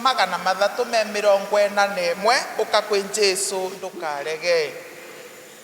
magana mathatũ me mĩrongo ĩna na ĩmwe ũka kwĩ Jesu ndũkarege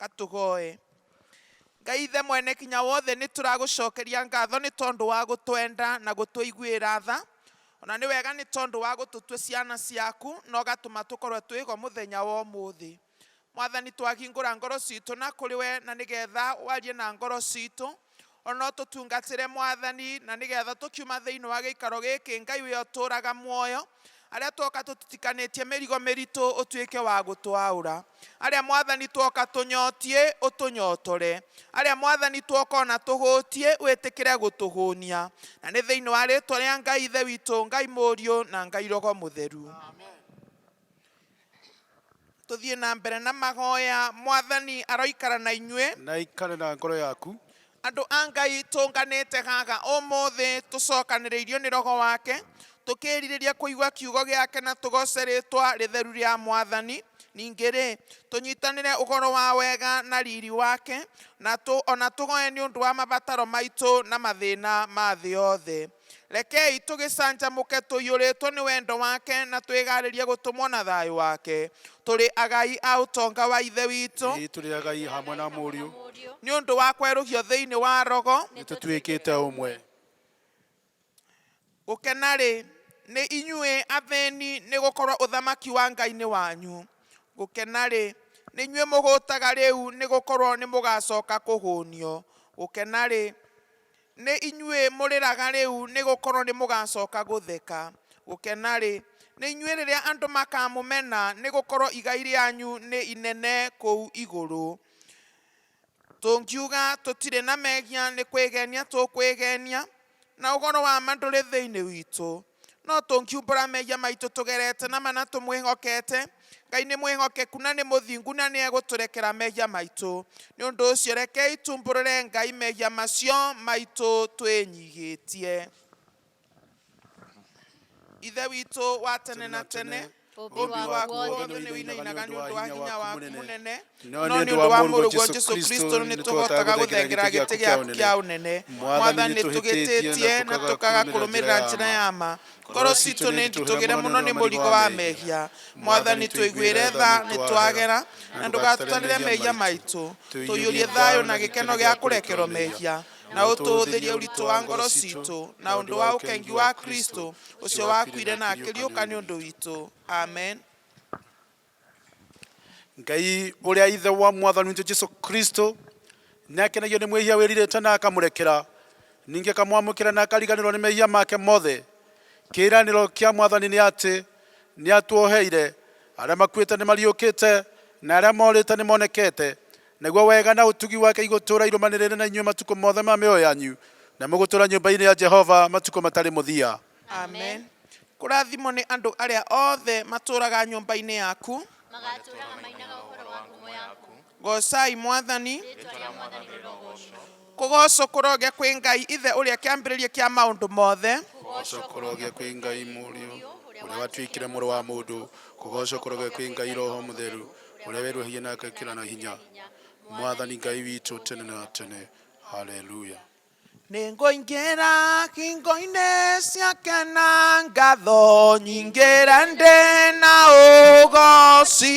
Katũgoe. Ngai Ithe Mwenekinya-wothe, nĩ tũragũcokeria ngatho nĩ tondũ wa gũtwenda na gũtũiguĩra tha. O na nĩ wega nĩ tondũ wa gũtũtua ciana ciaku na ũgatũma tũkorũo twĩ ho mũthenya wa ũmũthĩ. Mwathani, twahingũra ngoro citũ na kũrĩ we na nĩgetha warie na ngoro citũ, O no tũtungatĩre Mwathani, na nĩgetha tũkiuma thĩinĩ wa gĩikaro gĩkĩ, Ngai ũrĩa ũtũũraga muoyo, arĩa twoka tũtitikanĩtie mĩrigo mĩritũ, ũtuĩke wa gũtũaũra. Arĩa Mwathani twoka tũnyotiĩ, ũtũnyotore. Arĩa Mwathani twoka o na tũhũtiĩ, wĩtĩkĩre gũtũhũnia. Na nĩ thĩinĩ wa rĩĩtwa rĩa Ngai Ithe witũ, Ngai Mũriũ, na Ngai Roho Mũtheru. Tũthiĩ na mbere na mahoya. Mwathani aroikara na inyuĩ. Na aikare na ngoro yaku. Andũ a Ngai tũnganĩte haha ũmũthĩ tũcokanĩrĩirio nĩ Roho wake, tũkĩĩrirĩria kũigua kiugo gĩake na tũgooce rĩĩtwa rĩtheru rĩa Mwathani. Ningĩ-rĩ, tũnyitanĩre ũhoro wa wega na riri wake, na o na tũhoye nĩ ũndũ wa mabataro maitũ na mathĩna ma thĩ yothe. Rekei tũgĩcanjamũke tũiyũrĩtwo nĩ wendo wake na twĩgaarĩrie gũtũmwo na thayũ wake. Tũrĩ agai a ũtonga wa Ithe witũ. Ĩĩ, tũrĩ agai hamwe na Mũriũ. Nĩ ũndũ wa kwerũhio thĩinĩ wa rogo. Nĩ tũtuĩkĩte ũmwe. Gũkena-rĩ, nĩ inyuĩ athĩni, nĩ gũkorwo ũthamaki wa Ngai nĩ wanyu. Gũkena-rĩ, nĩ inyuĩ mũhũtaga rĩu, nĩ gũkorwo nĩ mũgaacoka kũhũnio. Gũkena-rĩ, Nĩ inyuĩ mũrĩraga rĩu, nĩ gũkorũo nĩ mũgaacoka gũtheka. Gũkena-rĩ, nĩ inyuĩ rĩrĩa andũ makaamũmena, nĩ gũkorũo igai rĩanyu nĩ inene kũu igũrũ. Tũngiuga, Tũtirĩ na mehia, nĩ kwĩgenia tũkwĩgenia, na ũhoro wa ma ndũrĩ thĩinĩ witũ. No tũngiumbũra mehia maitũ tũgerete na ma na tũmwĩhokete, Ngai nĩ mwĩhokeku na nĩ mũthingu na nĩ egũtũrekera mehia maitũ. Nĩ ũndũ ũcio rekei tuumbũrũre Ngai mehia macio maitũ twĩnyihĩtie. Ithe witũ wa tene na tene. Bobi wa kuondo ne winainaga nĩ ũndũ wa hinya waku mũnene, no nĩ ũndũ wa Mũrũguo Jesu Kristo nĩ tũhotaga gũthengerera gĩtĩ gĩaku kĩa ũnene. Mwathani, nĩ tũhĩtĩtie na tũkaga kũrũmĩrĩra njĩra ya ma. Ngoro citũ nĩ nditũgĩre mũno nĩ mũrigo wa mehia. Mwathani, tũiguĩre tha, nĩ twagera, na ndũgatũtarĩre mehia maitũ. Tũiyũrie thayũ na gĩkeno gĩa kũrekerwo mehia. na ũtũũthĩrie ũritũ wa ngoro citũ na ũndũ wa ũkengi wa Kristo ũcio wakuire na akĩriũka nĩ ũndũ witũ amen ngai ũrĩa ithe wa mwathani witũ jesu kristo nĩ akenagio nĩ mwĩhia wĩrirĩte na akamũrekera ningĩ akamwamũkĩra na akariganĩrwo nĩ mehia make mothe kĩĩranĩro kĩa mwathani nĩ atĩ nĩ atuoheire arĩa makuĩte nĩ mariũkĩte na arĩa morĩte nĩ monekete Naguo wega na ũtugi wake igũtũũra irũmanĩrĩire na inyuĩ matukũ mothe ma mĩoyo yanyu, na mũgũtũũra nyũmba-inĩ ya Jehova matukũ matarĩ mũthia. Amen. Kũrathimwo nĩ andũ arĩa othe matũũraga nyũmba-inĩ yaku. Magatũũraga mainaga ũhoro wa ngumo yaku. Goocai Mwathani. Rĩĩtwa rĩa Mwathani rĩrogoocwo. Kũgoocwo kũroge kwĩ Ngai Ithe ũrĩa kĩambĩrĩria kĩa maũndũ mothe. Kũgoocwo kũroge kwĩ Ngai Mũriũ ũrĩa watuĩkire mũrũ wa mũndũ. Kũgoocwo kũroge kwĩ Ngai Roho Mũtheru ũrĩa weruhagia na agekĩra na hinya. Mwathani Ngai witũ tene na tene. Haleluya. Nĩngũingĩra hingo-inĩ ciake na ngatho nyingĩre ndĩ na ũgooci.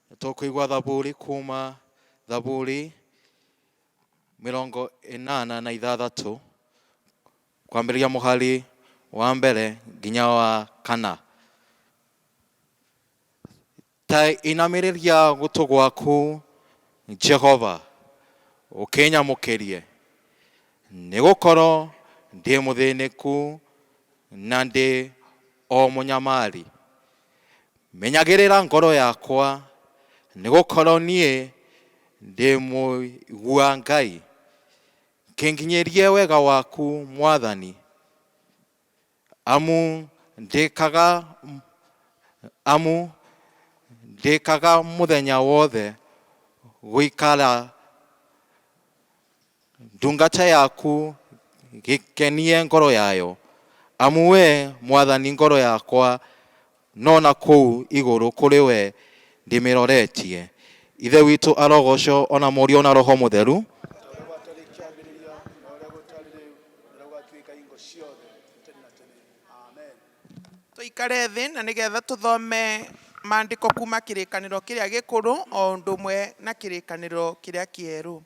Nĩ tũkũigua thaburi kuma thaburi mĩrongo ĩnana na ithathatũ kwambĩrĩria mũhari wa mbere nginya wa kana. Ta inamĩrĩria gũtũ gwaku Jehova ũkĩnyamũkĩrie, nĩ gũkorwo ndĩ mũthĩnĩku na ndĩ O mũnyamari, menyagĩrĩra ngoro yakwa, nĩgũkorwo niĩ ndĩ mũigua Ngai. Kĩnginyĩrie wega waku Mwathani, amu ndĩkaga amu ndĩkaga mũthenya wothe gũikara. ndungata yaku gĩkenie ngoro yayo, amu wee, mwathani, ngoro yakwa no na kũu igũrũ kũrĩ we ndĩmĩroretie. Ithe witũ arogoocwo, o na Mũriũ, o na Roho Mũtheru. Tũikare thĩ na nĩ getha tũthome maandĩko kuma kĩrĩkanĩro kĩrĩa gĩkũrũ o ũndũ ũmwe na kĩrĩkanĩro kĩrĩa kĩerũ.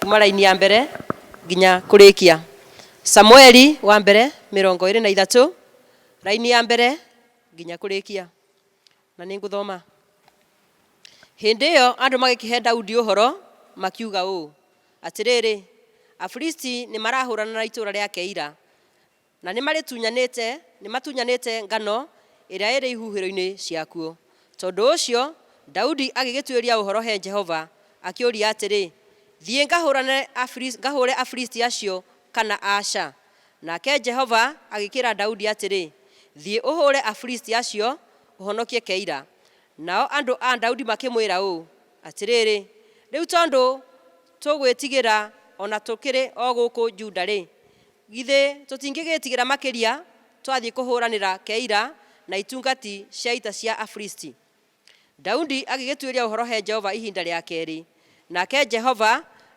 kuma raini ya mbere nginya kũrĩkia samueli wa mbere mĩrongo ĩrĩ na ithatũ raini ya mbere nginya kũrĩkia Na nĩngũthoma. Hĩndĩ ĩyo andũ magĩkĩhe Daudi ũhoro, makiuga ũũ, Atĩrĩrĩ, Afilisti nĩmarahũũrana na itũũra rĩa Keila, na nĩmarĩtunyanĩte, nĩmatunyanĩte ngano ĩrĩa ĩrĩ ihuhĩro-inĩ ciakuo. Tondũ ũcio Daudi agĩgĩtuĩria ũhoro he Jehova, akĩũria atĩrĩ, Thiĩ ngahũũrane Afilisti, ngahũũre Afilisti acio, kana aca? Nake Jehova agĩkĩĩra Daudi atĩrĩ, Thiĩ ũhũũre Afilisti acio, ũhonokie Keila. Nao andũ a Daudi makĩmwĩra ũũ, Atĩrĩrĩ, rĩu tondũ tũgwĩtigĩra o na tũkĩrĩ o gũkũ Juda-rĩ, githĩ tũtingĩgĩĩtigĩra makĩria twathiĩ kũhũũranĩra Keila na itungati cia ita cia Afilisti? Daudi agĩgĩtuĩria ũhoro he Jehova ihinda rĩa kerĩ, nake Jehova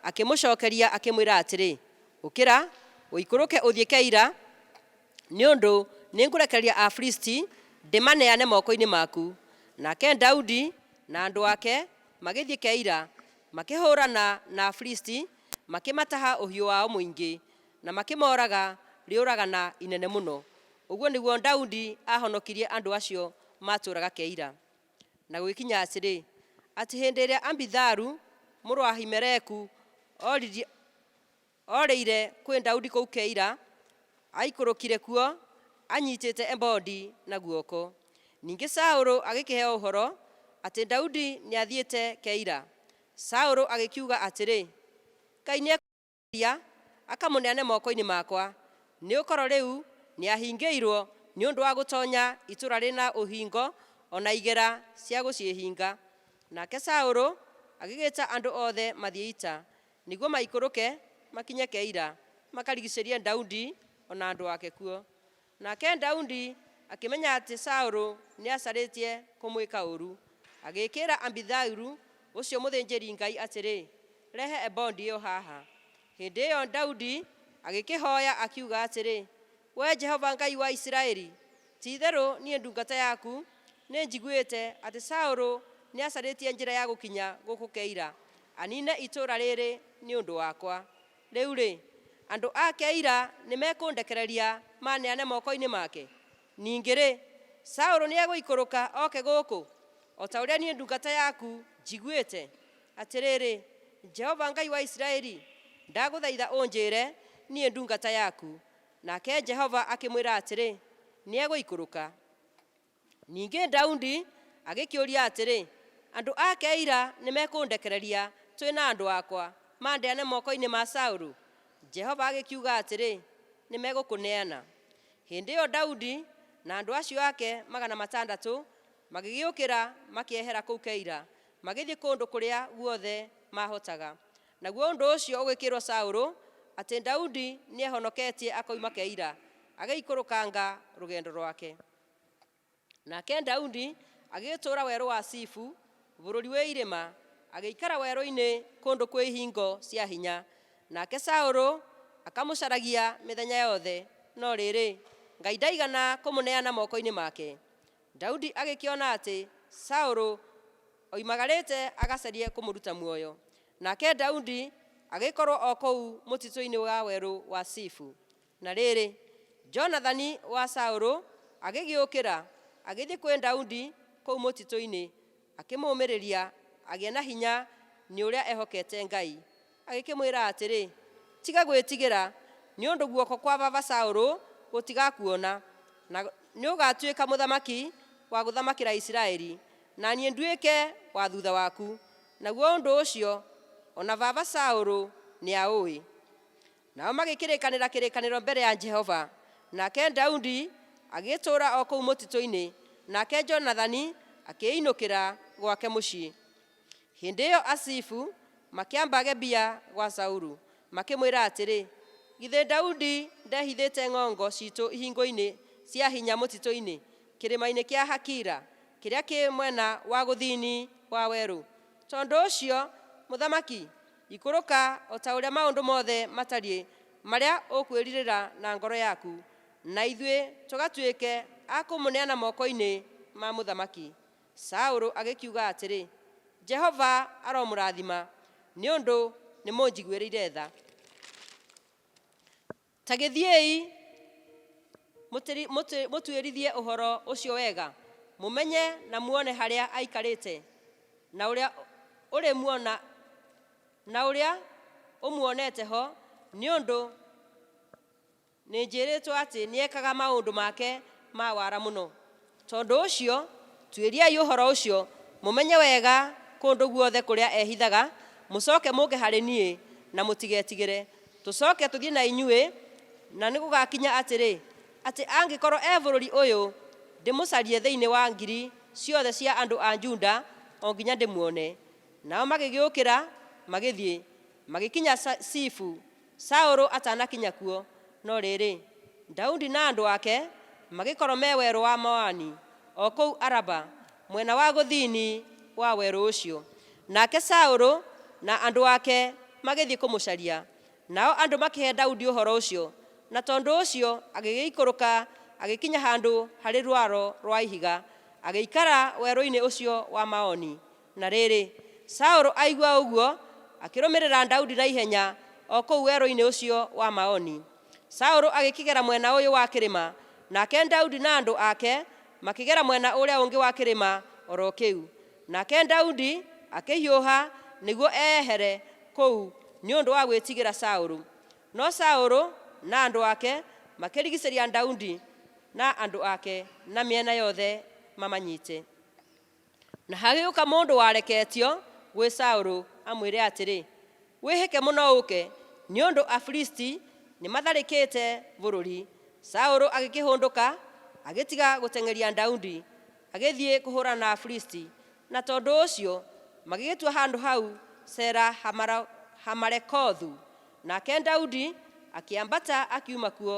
akĩmũcokeria akĩmwĩra atĩrĩ, Ũkĩra, ũikũrũke ũthiĩ Keila, nĩ ũndũ nĩngũrekereria Afilisti ndĩmaneane moko-inĩ maku. Nake Daudi na andũ ake magĩthiĩ Keila, makĩhũũrana na Afilisti, makĩmataha ũhiũ wao mũingĩ. Na makĩmooraga rĩũragana inene mũno. Ũguo nĩguo Daudi aahonokirie andũ acio maatũũraga Keila. Na gũgĩkinya atĩrĩ, atĩ hĩndĩ ĩrĩa Abitharu mũrũ wa Ahimeleku ooririe, oorĩire kwĩ Daudi kũu Keila, aaikũrũkire kuo anyiitĩte ebodi na guoko. Ningĩ Saũlũ agĩkĩheo ũhoro atĩ Daudi nĩathiĩte Keila. Saũlũ agĩkiuga atĩrĩ, Kaĩ nĩekũũrĩte? Akamũhonokia, akamũneane moko-inĩ makwa, nĩ gũkorwo rĩu nĩahingĩirwo nĩ ũndũ wa gũtonya itũũra rĩrĩ na ũhingo, o na igera cia gũciĩhinga. Nake Saũlũ agĩgĩta andũ othe mathiĩ ita, nĩguo maikũrũke makinye Keila, makarigiicĩrie Daudi o na andũ ake kuo. Nake Daudi akĩmenya atĩ Saũlũ nĩacarĩtie kũmwĩka ũũru, agĩkĩĩra Abithailu ũcio mũthĩnjĩri-Ngai atĩrĩ, Rehe ebodi ĩyo haha. Hĩndĩ ĩyo Daudi agĩkĩhooya, akiuga atĩrĩ, Wee Jehova Ngai wa Isiraeli, ti-itherũ niĩ ndungata yaku nĩnjiguĩte atĩ Saũlũ nĩacarĩtie njĩra ya gũkinya gũkũ Keila, aniine itũũra rĩĩrĩ nĩ ũndũ wakwa. Rĩu-rĩ, andũ a Keila nĩmekũndekereria maneane moko-inĩ make? Ningĩ-rĩ, Saũlũ nĩegũikũrũka oke gũkũ, o ta ũrĩa niĩ ndungata yaku njiguĩte? Atĩrĩrĩ, Jehova Ngai wa Isiraeli, ndagũthaitha ũnjĩĩre, niĩ ndungata yaku. Nake Jehova akĩmwĩra atĩrĩ, Nĩegũikũrũka. Ningĩ Daudi agĩkĩũria atĩrĩ, Andũ a Keila nĩmekũndekereria twĩ na andũ akwa, mandeane moko-inĩ ma Saulu? Jehova agĩkiuga atĩrĩ, Nĩmegũkũneana. Hĩndĩ ĩyo Daudi na andũ acio ake magana matandatũ magĩgĩũkĩra makĩehera kũu Keila, magĩthiĩ kũndũ kũrĩa guothe maahotaga. Naguo ũndũ ũcio ũgĩkĩĩrwo Saulu atĩ Daudi nĩehonoketie akoima Keila, agĩikũrũkanga rũgendo rwake. Nake Daudi agĩtũũra werũ wa Sifu, bũrũri wĩ irĩma, agĩikara werũ-inĩ kũndũ kwĩ ihingo cia hinya. Nake Saũlũ akamũcaragia mĩthenya yothe, no rĩrĩ, Ngai ndaigana kũmũneana moko-inĩ make. Daudi agĩkĩona atĩ Saũlũ oimagarĩte agacarie kũmũruta muoyo. Nake Daudi agĩkorwo o kũu mũtitũ-inĩ wa werũ wa Sifu. Na rĩrĩ, Jonathani wa Saũlũ agĩgĩũkĩra, agĩthiĩ kwĩ Daudi kũu mũtitũ-inĩ, akĩmũũmĩrĩria agĩe na hinya nĩ ũrĩa ehokete Ngai, agĩkĩmwĩra atĩrĩ, Tiga gwĩtigĩra, nĩ ũndũ guoko kwa baba Saũlũ gũtigakuona, na nĩũgatuĩka mũthamaki wa gũthamakĩra Isiraeli, na niĩ nduĩke wa thutha waku, naguo ũndũ ũcio o na baba Saũlũ nĩaũĩ. Nao magĩkĩrĩkanĩra kĩrĩkanĩro mbere ya Jehova, nake Daudi agĩgĩtũũra o kũu mũtitũ-inĩ, nake Jonathani akĩĩinũkĩra gwake mũciĩ. Hĩndĩ ĩyo Azifu makĩamba Gebia gwa Saulu, makĩmwĩra atĩrĩ, Githĩ Daudi ndehithĩte ng'ongo ciitũ ihingũinĩ cia hinya mũtitũ-inĩ, kĩrĩma-inĩ kĩa Hakila, kĩrĩa kĩ mwena wa gũthini wa werũ? Tondũ ũcio, mũthamaki, Ikũrũka o ta ũrĩa maũndũ mothe matariĩ marĩa ũkwĩrirĩra na ngoro yaku, na ithuĩ tũgatuĩke a kũmũneana moko-inĩ ma mũthamaki. Saũlũ agĩkiuga atĩrĩ, Jehova aromũrathima, nĩ ũndũ nĩmũnjiguĩrĩire tha. Ta gĩthiĩi mũtĩri- mũtĩ- mũtuĩrithie ũhoro ũcio wega, mũmenye na muone harĩa aikarĩte, na ũrĩa ũrĩmuona na ũrĩa ũmuonete ho, nĩ ũndũ nĩnjĩrĩtwo atĩ nĩekaga maũndũ make ma wara mũno. Tondũ ũcio, tuĩriai ũhoro ũcio, mũmenye wega kũndũ guothe kũrĩa ehithaga, mũcooke mũũke harĩ niĩ, na mũtigetigĩre. Tũcooke tũthiĩ na inyuĩ, na nĩgũgakinya atĩrĩ, atĩ angĩkorwo e bũrũri ũyũ, ndĩmũcarie thĩinĩ wa ngiri ciothe cia andũ a Juda o nginya ndĩmuone. Nao magĩgĩũkĩra, magĩthiĩ, magĩkinya Zifu. Saũlũ atanakinya kuo, no rĩĩrĩ, Daudi na andũ ake magĩkorwo me werũ wa Maoni, o kũu Araba, mwena wa gũthini wa werũ ũcio. Nake Saũlũ na andũ ake magĩthiĩ kũmũcaria, nao andũ makĩhe Daudi ũhoro ũcio, na tondũ ũcio agĩgĩikũrũka agĩkinya handũ harĩ rwaro rwa ihiga, agĩikara werũ-inĩ ũcio wa Maoni. Na rĩrĩ, Saũlũ aigua ũguo, akĩrũmĩrĩra Daudi na ihenya o kũu werũ-inĩ ũcio wa Maoni. Saũlũ agĩkĩgera mwena ũyũ wa kĩrĩma, nake Daudi na andũ ake makĩgera mwena ũrĩa ũngĩ wa kĩrĩma o ro kĩu. Nake Daudi akĩhiũha nĩguo eyehere kũu nĩ ũndũ wa gwĩtigĩra Saũlũ. No Saũlũ na andũ ake makĩrigicĩria Daudi na andũ ake na mĩena yothe mamanyite. Na hagĩũka mũndũ wareketio gwĩ Saũlũ amwĩre atĩrĩ, Wĩhĩke mũno ũũke, nĩ ũndũ Afilisti nĩmatharĩkĩte bũrũri. Saũlũ agĩkĩhũndũka, agĩtiga gũteng'eria Daudi, agĩthiĩ kũhũũrana na Afilisti, na tondũ ũcio magĩgĩtua handũ hau Sela Hamarekothu. Nake Daudi akĩambata akiuma kuo.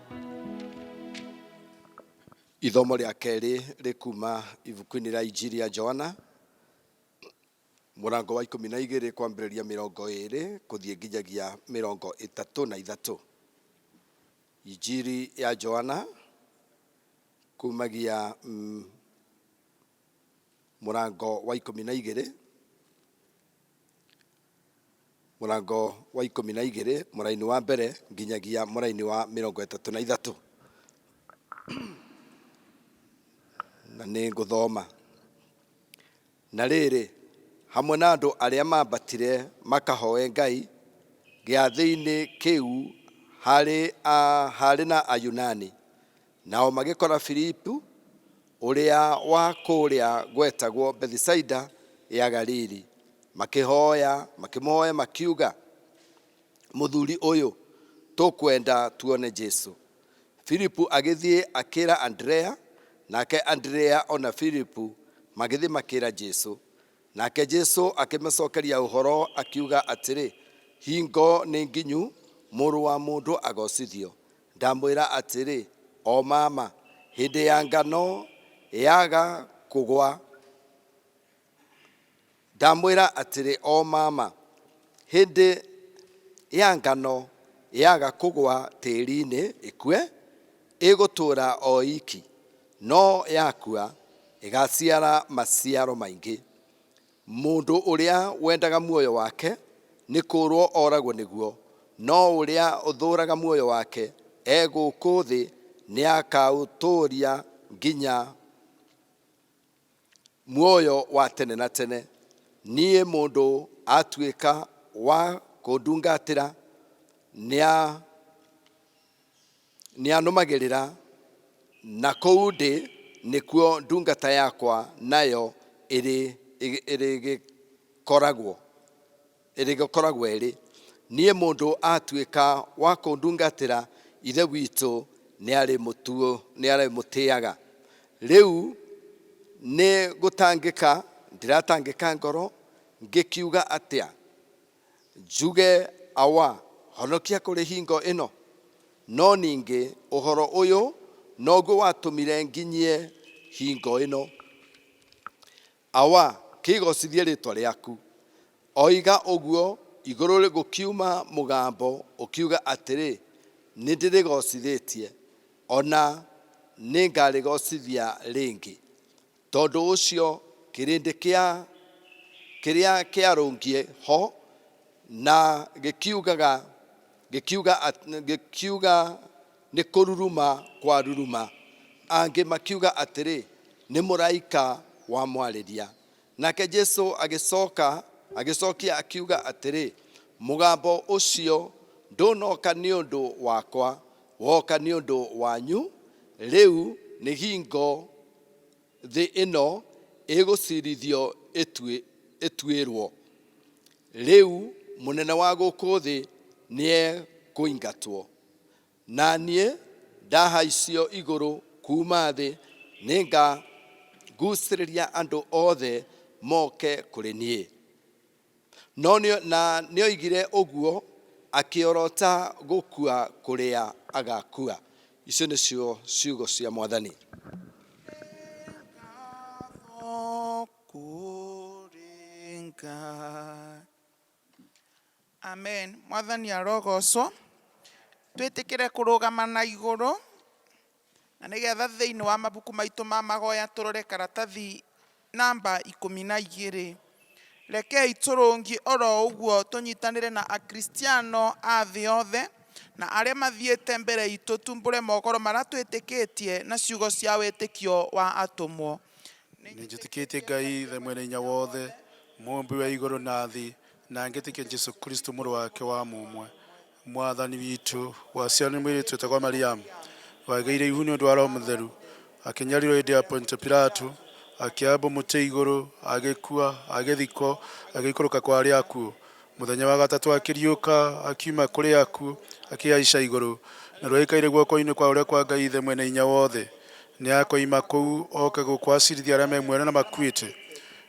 Ithomo rĩa kerĩ rĩ kuma ibuku-inĩ rĩa Injiri ya Johana mũrango wa ikũmi na igĩrĩ kwambĩrĩria mĩrongo ĩrĩ kũthiĩ nginyagia mĩrongo ĩtatũ na ithatũ. Injiri ya Johana kumagia mm, mũrango wa ikũmi na igĩrĩ mũrango wa ikũmi na igĩrĩ mũraini wa mbere nginyagia mũraini wa mĩrongo ĩtatũ na ithatũ na nĩ ngũthoma na rĩrĩ hamwe na andũ arĩa mambatire makahoe ngai gĩathĩ-inĩ kĩu harĩ, a, harĩ na ayunani Nao magĩkora Filipu, ũrĩa wa kũũrĩa gwetagwo Bethisaida ya Galili, makĩhooya, makĩmũhooya makiuga, Mũthuri ũyũ, tũkwenda tuone Jesu. Filipu agĩthiĩ akĩra Andrea, nake Andrea o na Filipu magĩthiĩ makĩra Jesu. Nake Jesu akĩmacokeria ũhoro akiuga atĩrĩ, Hingo nĩ nginyu, Mũrũ wa mũndũ agocithio, Ndamwĩra atĩrĩ, O mama, hĩndĩ ya ngano yaga kũgwa. Ndamwĩra atĩrĩ, O mama, hĩndĩ ya ngano yaga kũgwa tĩĩri-inĩ ĩkue, ĩgũtũũra o iki, no yakua, ĩgaciara maciaro maingĩ. Mũndũ ũrĩa wendaga muoyo wake nĩ kũũrũo oragwo nĩguo, no ũrĩa ũthũũraga muoyo wake e gũkũ thĩ nĩ akaũtũũria nginya muoyo wa tene na tene. Niĩ mũndũ atuĩka wa kũndungatĩra nĩ Nĩanũmagĩrĩra, na kũu ndĩ nĩkuo ndungata yakwa nayo ĩrĩgĩkoragwo. Ĩrĩgĩkoragwo-ĩrĩ, niĩ mũndũ atuĩka wa kũndungatĩra, Ithe witũ nĩarĩmũtĩaga. Rĩu nĩ gũtangĩka ndĩratangĩka ngoro, ngĩkiuga atĩa? Njuge awa, Honokia kũrĩ hingo ĩno. No ningĩ ũhoro ũyũ noguo watũmire nginyie hingo ĩno. Awa, Kĩgocithie rĩtwa rĩaku. Oiga ũguo, igũrũ gũkiuma mũgambo ũkiuga atĩrĩ, Nĩndĩrĩgocithĩtie, o na nĩngarĩgocithia rĩngĩ. Tondũ ũcio kĩrĩndĩ kĩa kĩrĩa kĩarũngiĩ ho na gĩkiugaga, gĩkiuga, gĩkiuga, Nĩ kũruruma kwaruruma. Angĩ makiuga atĩrĩ, Nĩ mũraika wamwarĩria. Nake Jesu agĩcoka, agĩcokia akiuga atĩrĩ, Mũgambo ũcio ndũnoka nĩ ũndũ wakwa, woka nĩ ũndũ wanyu. Rĩu nĩ hingo. thĩ ĩno ĩgũcirithio ĩtuĩrwo. Rĩu mũnene wa gũkũ thĩ nĩekũingatwo. Na niĩ ndahaicio igũrũ kuuma thĩ, nĩngagucĩrĩria andũ othe moke kũrĩ niĩ. No nĩ, na nĩ oigire ũguo akĩorota gũkua kũrĩa agakua. Icio nĩcio ciugo cia Mwathani. Amen. Mwathani arogocwo. Twĩtĩkĩre kũrũgama na igũrũ. Na nĩ getha thĩinĩ wa mabuku maitũ ma magoya tũrore karatathi namba ikũmi na igĩrĩ. Rekei tũrũngie o ro ũguo tũnyitanĩre na Akristiano a thĩ yothe na arĩa mathiĩte mbere itũ tumbũre mohoro marĩa twĩtĩkĩtie na ciugo cia wĩtĩkio wa atũmwo. Nĩ njĩtĩkĩtie Ngai Ithe Mwene Hinya Wothe, Mũũmbi wa igũrũ na thĩ, na ngetĩkia Jesu Kristo Mũrũ wake wa mũmwe, Mwathani witũ, waciarwo nĩ mwĩirĩtu wĩtagwo Mariamu, wagĩire ihu nĩ ũndũ wa Roho Mũtheru, akĩnyarirwo hĩndĩ ya Pontio Pilato, akĩambwo mũtĩ igũrũ, agĩkua, agĩthikwo, agĩikũrũka kwa arĩa akuũ. Mũthenya wa gatatũ akĩriũka akiuma kũrĩ akuũ, akĩhaica igũrũ, naruo aikaire guoko-inĩ kwa ũrĩa kwa Ngai Ithe Mwene-Hinya-Wothe. Nĩakoima kũu oke gũkũ acirithie arĩa me muoyo na arĩa makuĩte.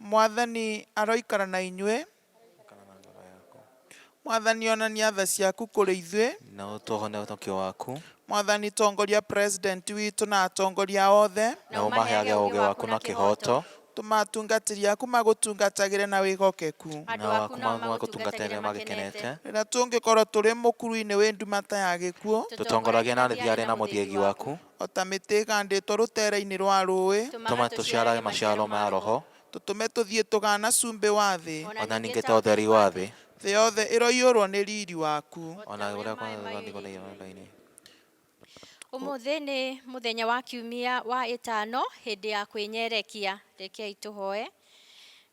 Mwathani aroikara na inyuĩ. Gũkana na ngoro yaku. Mwathani onania tha ciaku kũrĩ ithuĩ. Na ũtuohonie ũhonokio waku. Mwathani tongoria President witũ na atongoria othe. Na ũmaheage ũũgĩ waku na kĩhooto. Tũma atungatĩri aku magũtungatagĩre na wĩhokeku. Nao aku magũtungatagĩre magĩkenete. Rĩrĩa tũngĩkorwo tũrĩ mũkuru-inĩ wĩ nduma ta ya gĩkuũ. Tũtongoragie na thiarĩ na mũthiegi waku. O ta mĩtĩ ĩgaandĩtwo rũteere-inĩ rwa rũũĩ. Tũma tũciarage maciaro ma Roho. Tũtũme tũthiĩ tũgaana cumbĩ wa thĩ. O na ningĩ ta ũtheri wa thĩ. Thĩ yothe ĩroiyũrũo nĩ riiri waku. O na ũrĩa kũhaana ta mathangũ ma iranda-inĩ. Ũmũthĩ nĩ mũthenya wa kiumia wa ĩtano hĩndĩ ya kwĩnyerekia. Rekei tũhoe.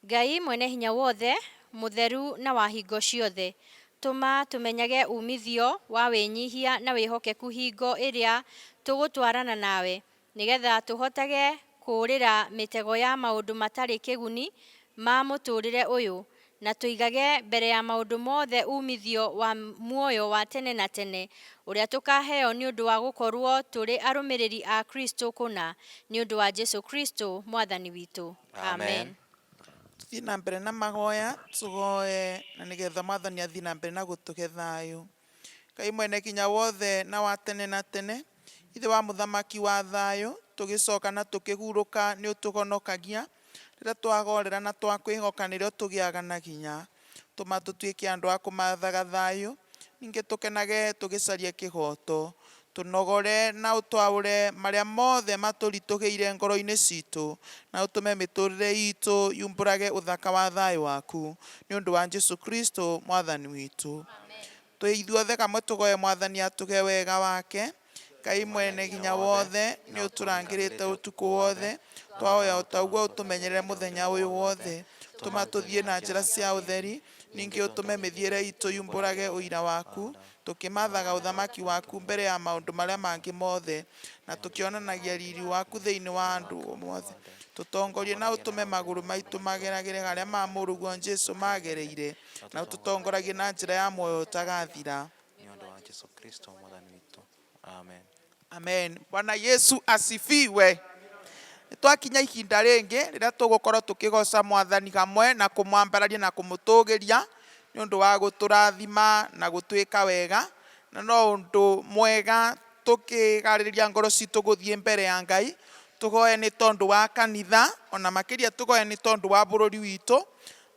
Ngai Mwene-Hinya-Wothe, mũtheru na wa hingo ciothe, tũma tũmenyage umithio wa wĩnyihia na wĩhokeku hingo ĩrĩa tũgũtwarana nawe, nĩgetha tũhotage kũũrĩra mĩtego ya maũndũ matarĩ kĩguni ma mũtũũrĩre ũyũ, Na tũigage mbere ya maũndũ mothe uumithio wa muoyo wa tene na tene, ũrĩa tũkaaheo nĩ ũndũ wa gũkorũo tũrĩ arũmĩrĩri a Kristo kũna, nĩ ũndũ wa Jesu Kristo Mwathani witũ. Amen. Tũthiĩ na mbere na mahoya, tũhoe na nĩgetha Mwathani athiĩ na mbere na gũtũhe thayũ. Ngai Mwene-Kinya-Wothe na wa tene na tene, Ithe wa Mũthamaki wa thayũ, tũgĩcoka na tũkĩhurũka nĩũtũhonokagia, rĩrĩa twagorera na twakwĩhoka nĩrĩo tũgĩaga na hinya. Tũma tũtuĩke andũ a kũmathaga thayũ, ningĩ tũkenage tũgĩcaria kĩhooto. Tũnogore na ũtwaũre marĩa mothe matũritũhĩire ngoro-inĩ citũ, na ũtũme mĩtũrĩre itũ yumbũrage ũthaka wa thayũ waku, nĩ ũndũ wa Jesu Kristo Mwathani witũ. Twĩ ithuothe kamwe tũgoe Mwathani atũhe wega wake. Ngai Mwene Hinya Wothe, nĩ ũtũrangĩrĩte ũtukũ wothe, twahoya o ta ũguo ũtũmenyerere mũthenya ũyũ wothe. Tũma tũthiĩ na njĩra cia ũtheri. Ningĩ ũtũme mĩthiĩre iitũ yumbũrage ũira waku, tũkĩmaathaga ũthamaki waku mbere ya maũndũ marĩa mangĩ mothe, na tũkĩonanagia riiri waku thĩinĩ wa andũ mothe. Tũtongorie na ũtũme magũrũ maitũ mageragĩre harĩa ma mũrũguo Jesu maagereire, na ũtũtongoragie na njĩra ya muoyo ũtagathira. Nĩ ũndũ wa Jesu Kristo Mwathani witũ. Amen. amen bwana yesu asifiwe nĩ twakinya ihinda rĩngĩ rĩrĩa tũgũkorwo tũkĩgoca mwathani hamwe na kũmwambararia na kũmũtũgĩria nĩ ũndũ wa gũtũrathima na gũtwĩka wega na no ũndũ mwega tũkĩgarĩrĩria ngoro citũ gũthiĩ mbere ya ngai tũgoe nĩ tondũ wa kanitha ona makĩria tũgoe nĩ tondũ wa bũrũri witũ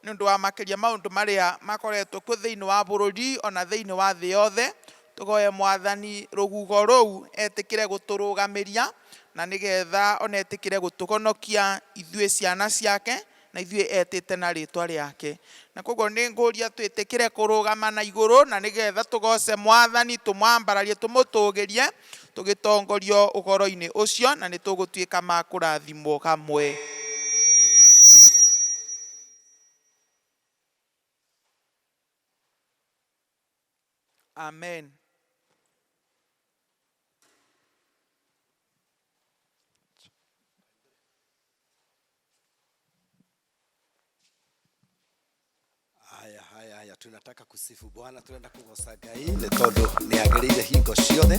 nĩ ũndũ wa makĩria maũndũ marĩa makoretwo kuo thĩinĩ wa bũrũri ona thĩinĩ wa thĩ yothe Tũhoe Mwathani rũhuho rũu etĩkĩre gũtũrũgamĩria, na nĩ getha o na etĩkĩre gũtũhonokia ithuĩ ciana ciake, na ithuĩ etĩte na rĩtwa rĩake. Na kwoguo nĩ ngũria twĩtĩkĩre kũrũgama na igũrũ, na nĩ getha tũgooce Mwathani, tũmwambararie, tũmũtũgĩrie, tũgĩtongorio ũhoro-inĩ ũcio, na nĩ tũgũtuĩka ma kũrathimwo hamwe. Amen. haya haya haya tunataka kusifu bwana tunaenda kugocanga ĩ nĩ tondũ nĩ agĩrĩire hingo ciothe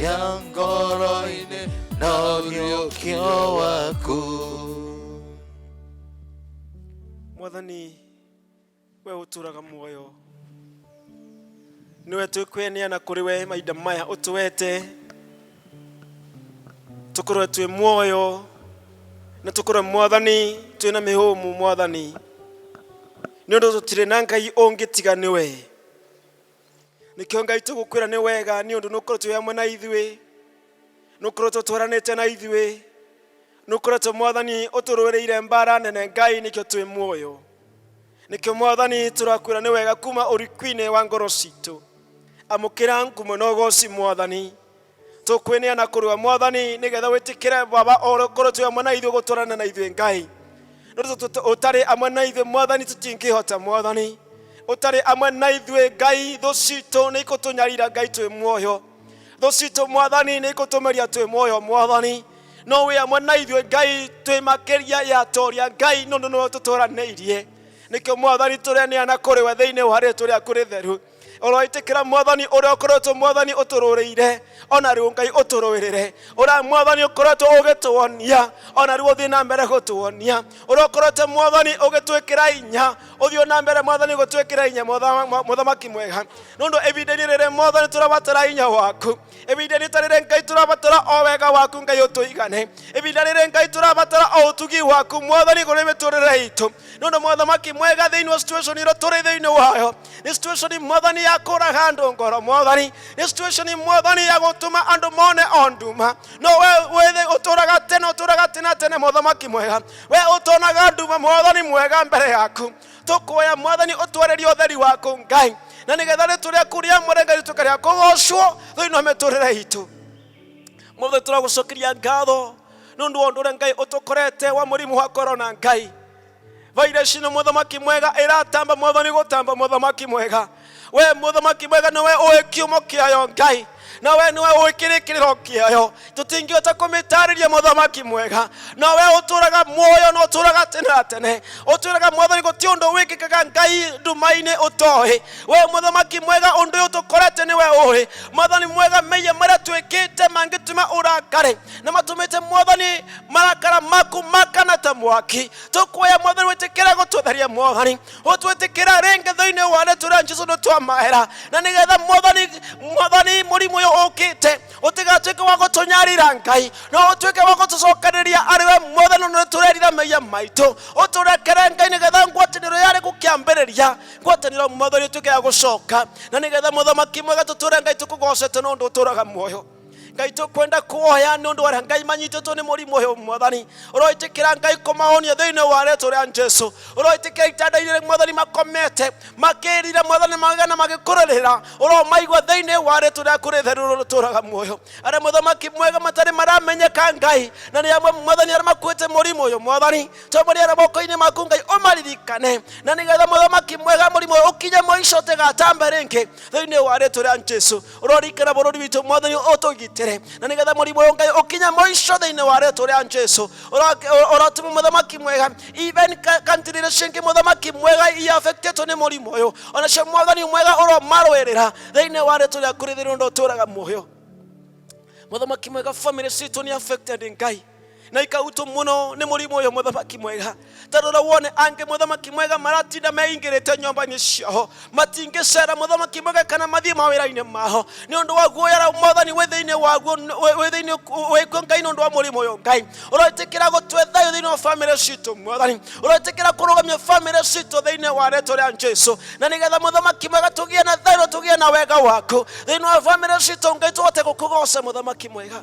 yang koro ini nario kiowaku mwathani we uturaga muoyo niwe twikweneana kuri we maida maya utuwete tukorwe twi muoyo na tukorwe mwathani twina mihumu mwathani ni undu tutire na ngai ungi tiga niwe nĩkĩo ngai tũgũkwĩra nĩ wega nĩ ũndũ nũkoretwo wĩ hamwe na ithuĩ nũkoretwo twaranĩte na ithuĩ nũkoretwo mwathani ũtũrũĩrĩire mbara nene ngai nĩkĩo twĩ muoyo nĩkĩo mwathani tũrakwĩra nĩ wega kuma ũriku-inĩ wa ngoro citũ amũkĩra ngumo na ũgoci mwathani tũkwĩneana kũrĩ we mwathani nĩgetha wĩtĩkĩre baba ũhoro korwo twĩ amwe na ithuĩ gũtwarana na ithuĩ ngai nĩ tondũ tũt- ũtarĩ amwe na ithuĩ mwathani tũtingĩhota mwathani ũtarĩ amwe na ithuĩ ngai thũ citũ nĩ ikũtũnyarira ngai twĩ muoyo thũ citũ mwathani nĩ ikũtũmeria twĩ muoyo mwathani no wĩ amwe na ithuĩ ngai twĩ makĩria ya toria ngai nĩ ũndũ nĩwe ũtũtũranĩirie nĩkĩo mwathani tũreneana kũrĩ we thĩinĩ wa rĩtũ rĩaku rĩtheru ũroĩtĩkĩra mwathani ũrĩa ũkoretwo mwathani ũtũrũrĩire ona rĩu ngai ũtũrũĩrĩre ũrĩa mwathani ũkoretwo ũgĩtuonia ona rĩu ũthiĩ na mbere gũtuonia ũrĩa ũkoretwo mwathani ũgĩtwĩkĩra inya ũthiĩ na mbere mwathani gũtwĩkĩra inya mwathama- mwa- mũthamaki mwega nĩ ũndũ ivinda-inĩ rĩrĩ mwathani tũrabatara inya waku ibinda rita rĩrĩ ngai tũrabatara o wega waku ngai ũtũigane ibinda rĩrĩ ngai tũrabatara o ũtugi waku mwathani kũrĩ mĩtũrĩre itũ nĩ ũndũ mwathamaki mwega thĩinĩ wa situation ĩrĩa tũrĩ thĩinĩ wayo nĩ situation mwathani ya kũraga andũ ngoro mwathani nĩ situation mwathani ya gũtũma andũ mone o nduma no we wĩthĩ ũtũraga tene ũtũraga tene tene mwathamaki mwega we ũtonaga nduma mwathani mwega mbere yaku tũkũhoya mwathani ũtwarĩrie ũtheri waku ngai na nĩgetha rĩtũ rĩaku rĩamũre ngai rĩtuĩka rĩa kũgocwo thĩinĩ wa mĩtũrĩre itũ mothe tũragũcokeria ngatho nĩ ũndũ wa ũndũ ũrĩa ngai ũtũkorete wa mũrimũ wa korona ngai vairasi nĩ mũthamaki mwega ĩratamba mwathani gũtamba mũthamaki mwega we mũthamaki mwega nĩwe ũĩ kiumo kĩayo ngai na we nĩwe ũĩ kĩrĩkĩrĩro kĩayo tũtingĩhota kũmĩtarĩria mũthamaki mwega na we ũtũraga muoyo na ũtũraga tene na tene ũtũraga mwathani gũtirĩ ũndũ wĩkĩkaga ngai nduma-inĩ ũtoĩ we mũthamaki mwega ũndũ ũyũ tũkorete nĩwe ũĩ mwathani mwega mĩiya marĩa twĩkĩte mangĩtuma ũrakare na matũmĩte mwathani marakara maku makana ta mwaki tũkuoya mwathani wĩtĩkĩra gũtũtheria mwathani gutwitikira ringi thiini wa ni turia jesu ni twamahera na nigetha mwathani mwathani murimu uyu ukite utigatuike wa gutunyarira ngai no utuike wa gutucokaniria ari we mwathani ni turerira maiya maitu uturekere ngai nigetha ngwataniro yari gukiambiriria ngwataniro mwathani utuike ya gucoka na nigetha muthamaki mwega tuture ngai tukugocete no ndu uturaga muoyo ngai tũkwenda kuoya nĩ ũndũ wa ngai manyitĩtwo nĩ mũrimũ ũyũ mwathani ũroĩtĩkĩra ngai kũmahonia thĩinĩ wa rĩtwa rĩa jesu ũroĩtĩkĩra itanda-inĩ mwathani makomete makĩrira mwathani magana magĩkũrĩrĩra ũromaigua thĩinĩ wa rĩtwa rĩaku rĩtheru rũtũraga muoyo arĩa mũthamaki mwega matarĩ maramenyeka ngai na nĩ amwe mwathani arĩa makuĩte mũrimũ ũyũ mwathani tũmũrĩ arĩa moko-inĩ maku ngai ũmaririkane na nĩgetha mũthamaki mwega mũrimũ ũyũ ũkinye mũico ũtĩgatambe rĩngĩ thĩinĩ wa rĩtwa rĩa jesu rorikana bũrũri witũ mwathani ũtũgitĩre na nĩgetha mũrimũ ũyũ ngai ũkinya mũico thĩinĩ wa rĩtwa rĩa jesu ũrotuma mũthamaki mwega even ka- country iria cingĩ mũthamaki mwega iaffectetwo nĩ mũrimũ ũyũ onacio mwathani mwega ũromarũĩrĩra thĩinĩ wa rĩtwa rĩaku rĩthĩrĩ ũndũ ũtũraga muoyo mũthamaki mwega family citũ nĩ affected ngai na ikautwo muno ni murimu uyu muthamaki mwega tarora wone angi muthamaki mwega maratinda meingirite nyomba-ini ciao matingicera muthamaki mwega kana mathie mawira-ini mao ni undu wa guoyara mwathani wi thiini waguo wi thiini wikuo ngai ni undu wa murimu uyu ngai uroitikira gutwe thayu thiini wa family citu mwathani uroitikira kurugamia family citu thiini wa rĩtwa rĩa jesu na nigetha muthamaki mwega tugie na thayu na tugie na wega waku thiini wa family citu ngai tuhote gukugoca muthamaki mwega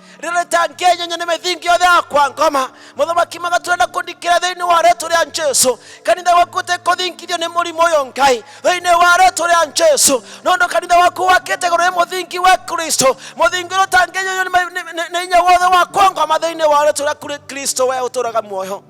rĩrĩ tangĩnyenya nĩ mĩthingi yothe yakwa ngoma mũthamaki magaturana kũndikĩra thĩinĩ wa rĩtwa rĩa jesu kanitha waku ũtekũthingithio nĩ mũrimũ ũyũ ngai thĩinĩ wa rĩtwa rĩa jesu nondũ kanitha waku wakĩte gũrũ nĩ mũthingi wa kristo mũthingi ũrĩa ũtangĩnyenywo nĩ ma- nĩ- nĩ- nĩ hinya wothe wakwa ngoma thĩinĩ wa rĩtwa rĩa Kri- kristo we ũtũraga muoyo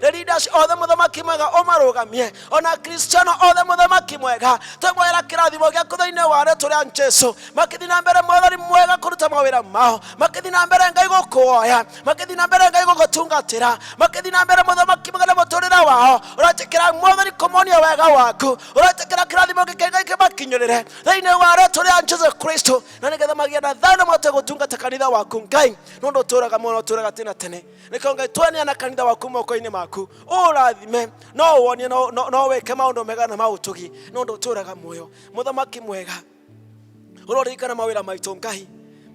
the leaders othe mũthamaki mwega ũmarũgamie ona kristiano othe mũthamaki mwega twĩmwagĩra kĩrathimo gĩaku thĩinĩ wa rĩtwa rĩa jesu makĩthiĩ na mbere mwathani mwega kũruta mawĩra mao makĩthiĩ na mbere ngai gũkuoya makĩthiĩ na mbere ngai gũgũtungatĩra makĩthiĩ na mbere mũthamaki mwega na mũtũrĩre wao ũretĩkĩra mwathani kũmonia wega waku ũretĩkĩra kĩrathimo gĩkĩ ngai kĩmakinyĩrĩre thĩinĩ wa rĩtwa rĩa jesu kristo na nĩgetha magĩa na thayũ na mahote gũtungata kanitha waku ngai nĩ ũndũ ũtũraga mũno ũtũraga tene na tene reke ngai tweneana kanitha waku moko-inĩ maku ũũrathime no ũwonie no- no no wĩke maũndũ mega na maũtugi nĩ ũndũ ũtũũraga muoyo mũthamaki mwega ũroririkana mawĩra maitũ ngai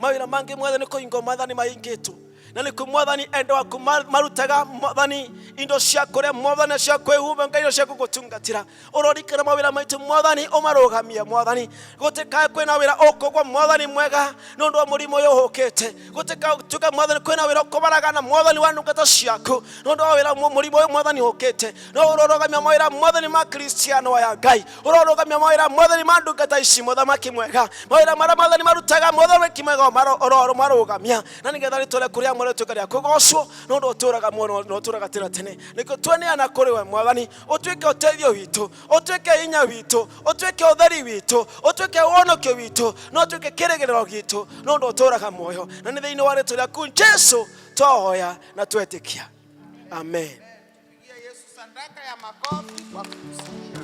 mawĩra mangĩ mothe nĩ kũhingwo mwathani mahingĩtwo na nĩkuo mwathani enda waku ma- marutaga mwathani indo cia kũrĩa mwathani cia kwĩhumba ngai indo cia gũgũtungatĩra urorikire mawira maitu mwathani umarugamie mwathani gutikae kwina wira ukugwa mwathani mwega nundu wa murimu uyu uhukite gutikae tuke mwathani kwina wira ukubaragana mwathani wa ndungata ciaku nundu wa wira mu- murimu uyu mwathani uhukite no urorugamia mawira mwathani ma kristiano aya ngai urorugamia mawira mwathani ma ndungata ici muthamaki mwega mawira maria mwathani marutaga muthamaki mwega uroro marugamia na nigetha ritore kuria mwarituika ria kugocwo nundu uturaga muono na uturaga tene tene nikio tweneana kuri we mwathani ũtuĩke ũteithio witũ ũtuĩke hinya witũ ũtuĩke ũtheri witũ ũtuĩke wonokio witũ na ũtuĩke kĩrĩgĩrĩro gitũ no ũndũ ũtũraga muoyo na nĩ thĩinĩ wa rĩtwa rĩaku jesu twahoya na twetĩkia amen Pigia Yesu sadaka ya makofi kwa kumsikia.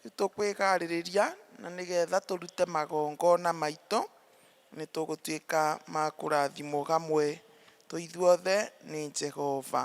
Nĩ tũkwĩgaarĩrĩria, na nĩgetha tũrute magongona maitũ, nĩ tũgũtuĩka ma kũrathimwo hamwe twĩ ithuothe nĩ Jehova.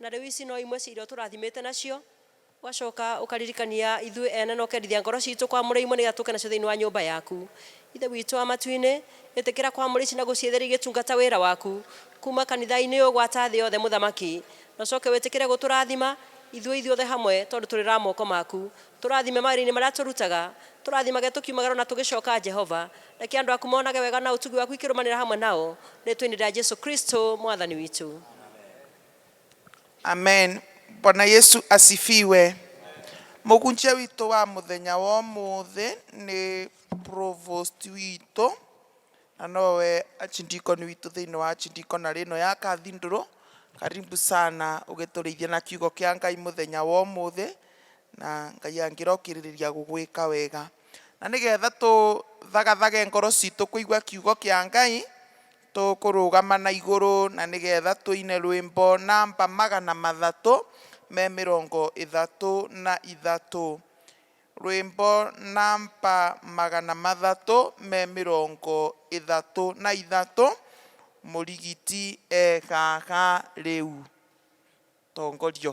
Na rĩu ici no imwe cia iria ũtũrathimĩte nacio, ũgacoka ũkaririkania ithuĩ ene na ũkendithia ngoro citũ kwamũre imwe nĩgetha tũke nacio thĩinĩ wa nyũmba yaku. Ithe witũ wa matu-inĩ, ĩtĩkĩra kwamũra ici na gũciĩtheria igĩtungata wĩra waku kuma kanitha-inĩ ũyũ gwata thĩ yothe Mũthamaki. Na ũcoke wĩtĩkĩre gũtũrathima ithuĩ ithuothe hamwe tondũ tũrĩ ra moko maku. Tũrathime mawĩra-inĩ marĩa tũrutaga, tũrathimage tũkiumagara ona tũgĩcoka Jehova, Reke andũ aku monage wega na ũtugi waku ikĩrũmanĩra hamwe nao. Rĩĩtwa-inĩ rĩa Jesu Kristo Mwathani witũ. Amen. Bwana Yesu asifiwe. Mũhunjia witũ wa mũthenya wa ũmũthĩ nĩ provost witũ na nowe achindikoni witũ thĩinĩ wa achindikona rĩno ya Kathindũrũ. Karibu sana ũgĩtũrĩithia na kiugo kĩa Ngai mũthenya wa ũmũthĩ na Ngai angĩrokĩrĩrĩria gũgwĩka wega. Na nĩ getha tũthagathage ngoro citũ kũigua kiugo kĩa Ngai, tũkũrũgama na igũrũ na nĩ getha tũine rwĩmbo namba magana mathatũ me mĩrongo ĩthatũ na ithatũ. Rwĩmbo namba magana mathatũ me mĩrongo ĩthatũ na ithatũ, Mũrigiti e haha rĩu. Tongorio.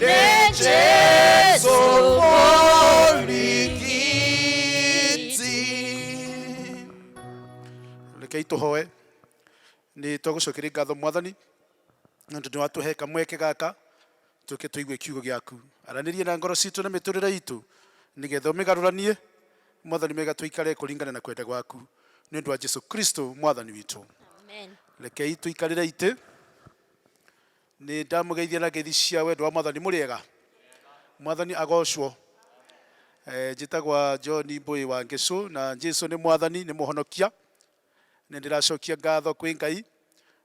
nejesu mũrigiti rekei tũhoe nĩ twagũcokeria ngatho mwathani nĩ ũndũ nĩ watũhe kamweke gaka tũke tũigue kiugo gĩaku aranĩrie na ngoro citũ na mĩtũrĩre itũ nĩgetha ũmĩgarũranie mwathani mega tũikare kũringana na kwenda gwaku nĩ ũndũ wa jesu kristo mwathani witũ rekei tũikarĩre itĩ Nĩ ndamũgeithia na ngeithi cia wendo wa mwathani mũrĩega. Mwathani agocwo. Eh, njĩtagwa John Mbũĩ wa Ngĩcũ na Jesu nĩ mwathani, nĩ mũhonokia. Nĩ ndĩracokia ngatho kwĩ Ngai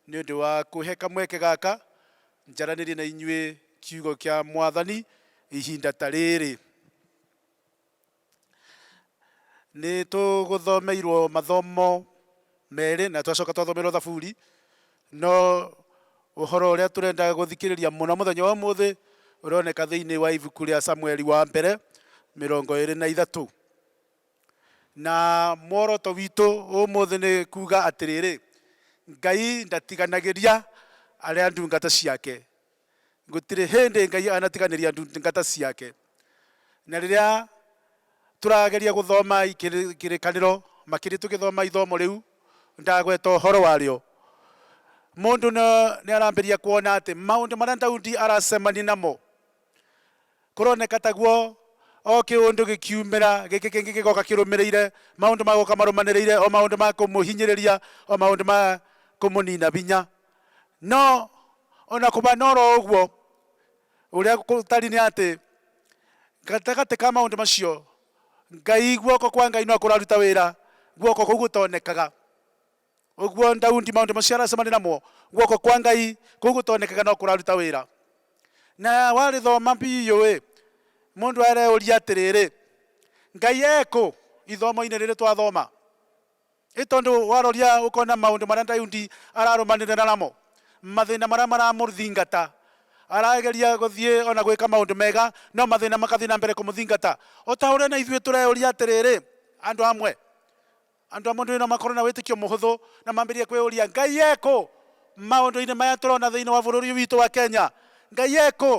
nĩ ũndũ wa kũhe kamweke gaka njaranĩrie na inyuĩ kiugo kĩa mwathani ihinda ta rĩrĩ. Nĩ tũgũthomeirwo mathomo merĩ na twacoka twathomeirwo thaburi, no ũhoro ũrĩa tũrenda gũthikĩrĩria mũno mũthenya wa ũmũthĩ ũroneka thĩinĩ wa ibuku rĩa Samueli wa mbere mĩrongo ĩrĩ na ithatũ. Na muoroto witũ ũmũthĩ nĩ kuuga atĩrĩrĩ, Ngai ndatiganagĩria arĩa ndungata ciake. Gũtirĩ hĩndĩ Ngai anatiganĩria ndungata ciake. Na rĩrĩa tũrageria gũthoma kĩrĩkanĩro, makĩria tũgĩthoma ithomo rĩu ndagweta ũhoro warĩo, mũndũ nĩ arambĩrĩria kuona atĩ maũndũ marĩa Daudi aracemania namo Kũroneka taguo o kĩũndũ gĩkiumĩra, gĩkĩ kĩngĩ gĩgoka kĩrũmĩrĩire, maũndũ magoka marũmanĩrĩire, o maũndũ ma kũmũhinyĩrĩria, o maũndũ ma kũmũnina binya. No ona kũbana oro ũguo, ũrĩa gũtariĩ nĩ atĩ, gatagatĩ ka maũndũ macio, Ngai, guoko kwa Ngai no kũraruta wĩra, guoko kũu gũtonekaga. Ũguo Daudi maũndũ macio aracemania namo, guoko kwa Ngai kũu gũtonekaga no kũraruta wĩra. Na warĩthoma biũ-ĩ, mũndũ areũria atĩrĩrĩ, Ngai ekũ ithomo-inĩ rĩrĩ twathoma? Nĩ tondũ waroria ũkona maũndũ marĩa Daudi ararũmanĩrĩra namo, mathĩna marĩa maramũthingata. Arageria gũthiĩ ona gwĩka maũndũ mega, no mathĩna magathiĩ na mbere kũmũthingata. O ta ũrĩa na ithuĩ tũreũria atĩrĩrĩ, andũ amwe, Andũ a mũndũ-inĩ no makorũo na wĩtĩkio mũhũthũ na mambĩrĩrie kwĩyũria, 'Ngai e kũ? Maũndũ-inĩ maya tũrona thĩinĩ wa bũrũri ũyũ witũ wa Kenya, Ngai e kũ?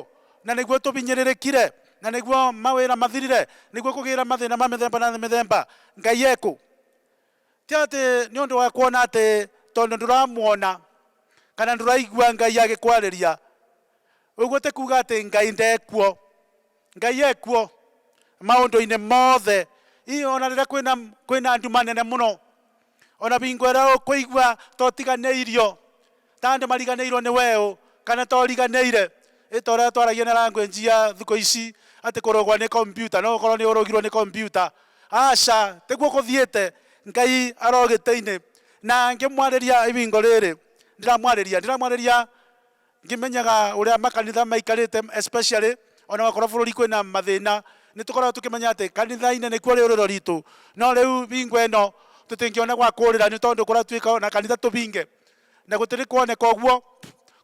Na nĩguo tũhinyĩrĩrĩkire? Na nĩguo mawĩra mathirire? Nĩguo kũgĩe na mathĩna ma mĩthemba na mĩthemba? Ngai e kũ? Ti atĩ nĩ ũndũ wa kuona atĩ tondũ ndũramuona kana ndũraigua Ngai agĩkwarĩria, ũguo ti kuuga atĩ Ngai ndekuo. Ngai e kuo maũndũ-inĩ mothe. Hihi o na rĩrĩa kwĩna, kwĩna nduma nene mũno, o na hingo ĩrĩa ũkũigua ta ũtiganĩirio, ta andũ mariganĩirwo nĩ weũ, kana ta ũriganĩire, ĩ ta ũrĩa twaragia na language ya thikũ ici atĩ kũrogwo nĩ kompiuta, no ũkorwo nĩ ũrogirwo nĩ kompiuta. Aca, tiguo gũthiĩte. Ngai aro gĩtĩ-inĩ. Na ngĩmwarĩria ihingo rĩrĩ, ndĩramwarĩria, ndĩramwarĩria Ngĩmenyaga ũrĩa makanitha maikarĩte especially ona wakorwo bũrũri kwĩna mathĩna, nĩ tũkoragwo tũkĩmenya atĩ kanitha-inĩ nĩkuo rĩũrĩro ritũ. No rĩu hingo ĩno tũtingĩona gwa kũũrĩra nĩ tondũ kũratuĩka ona kanitha tũbinge. Na gũtirĩ kuoneka ũguo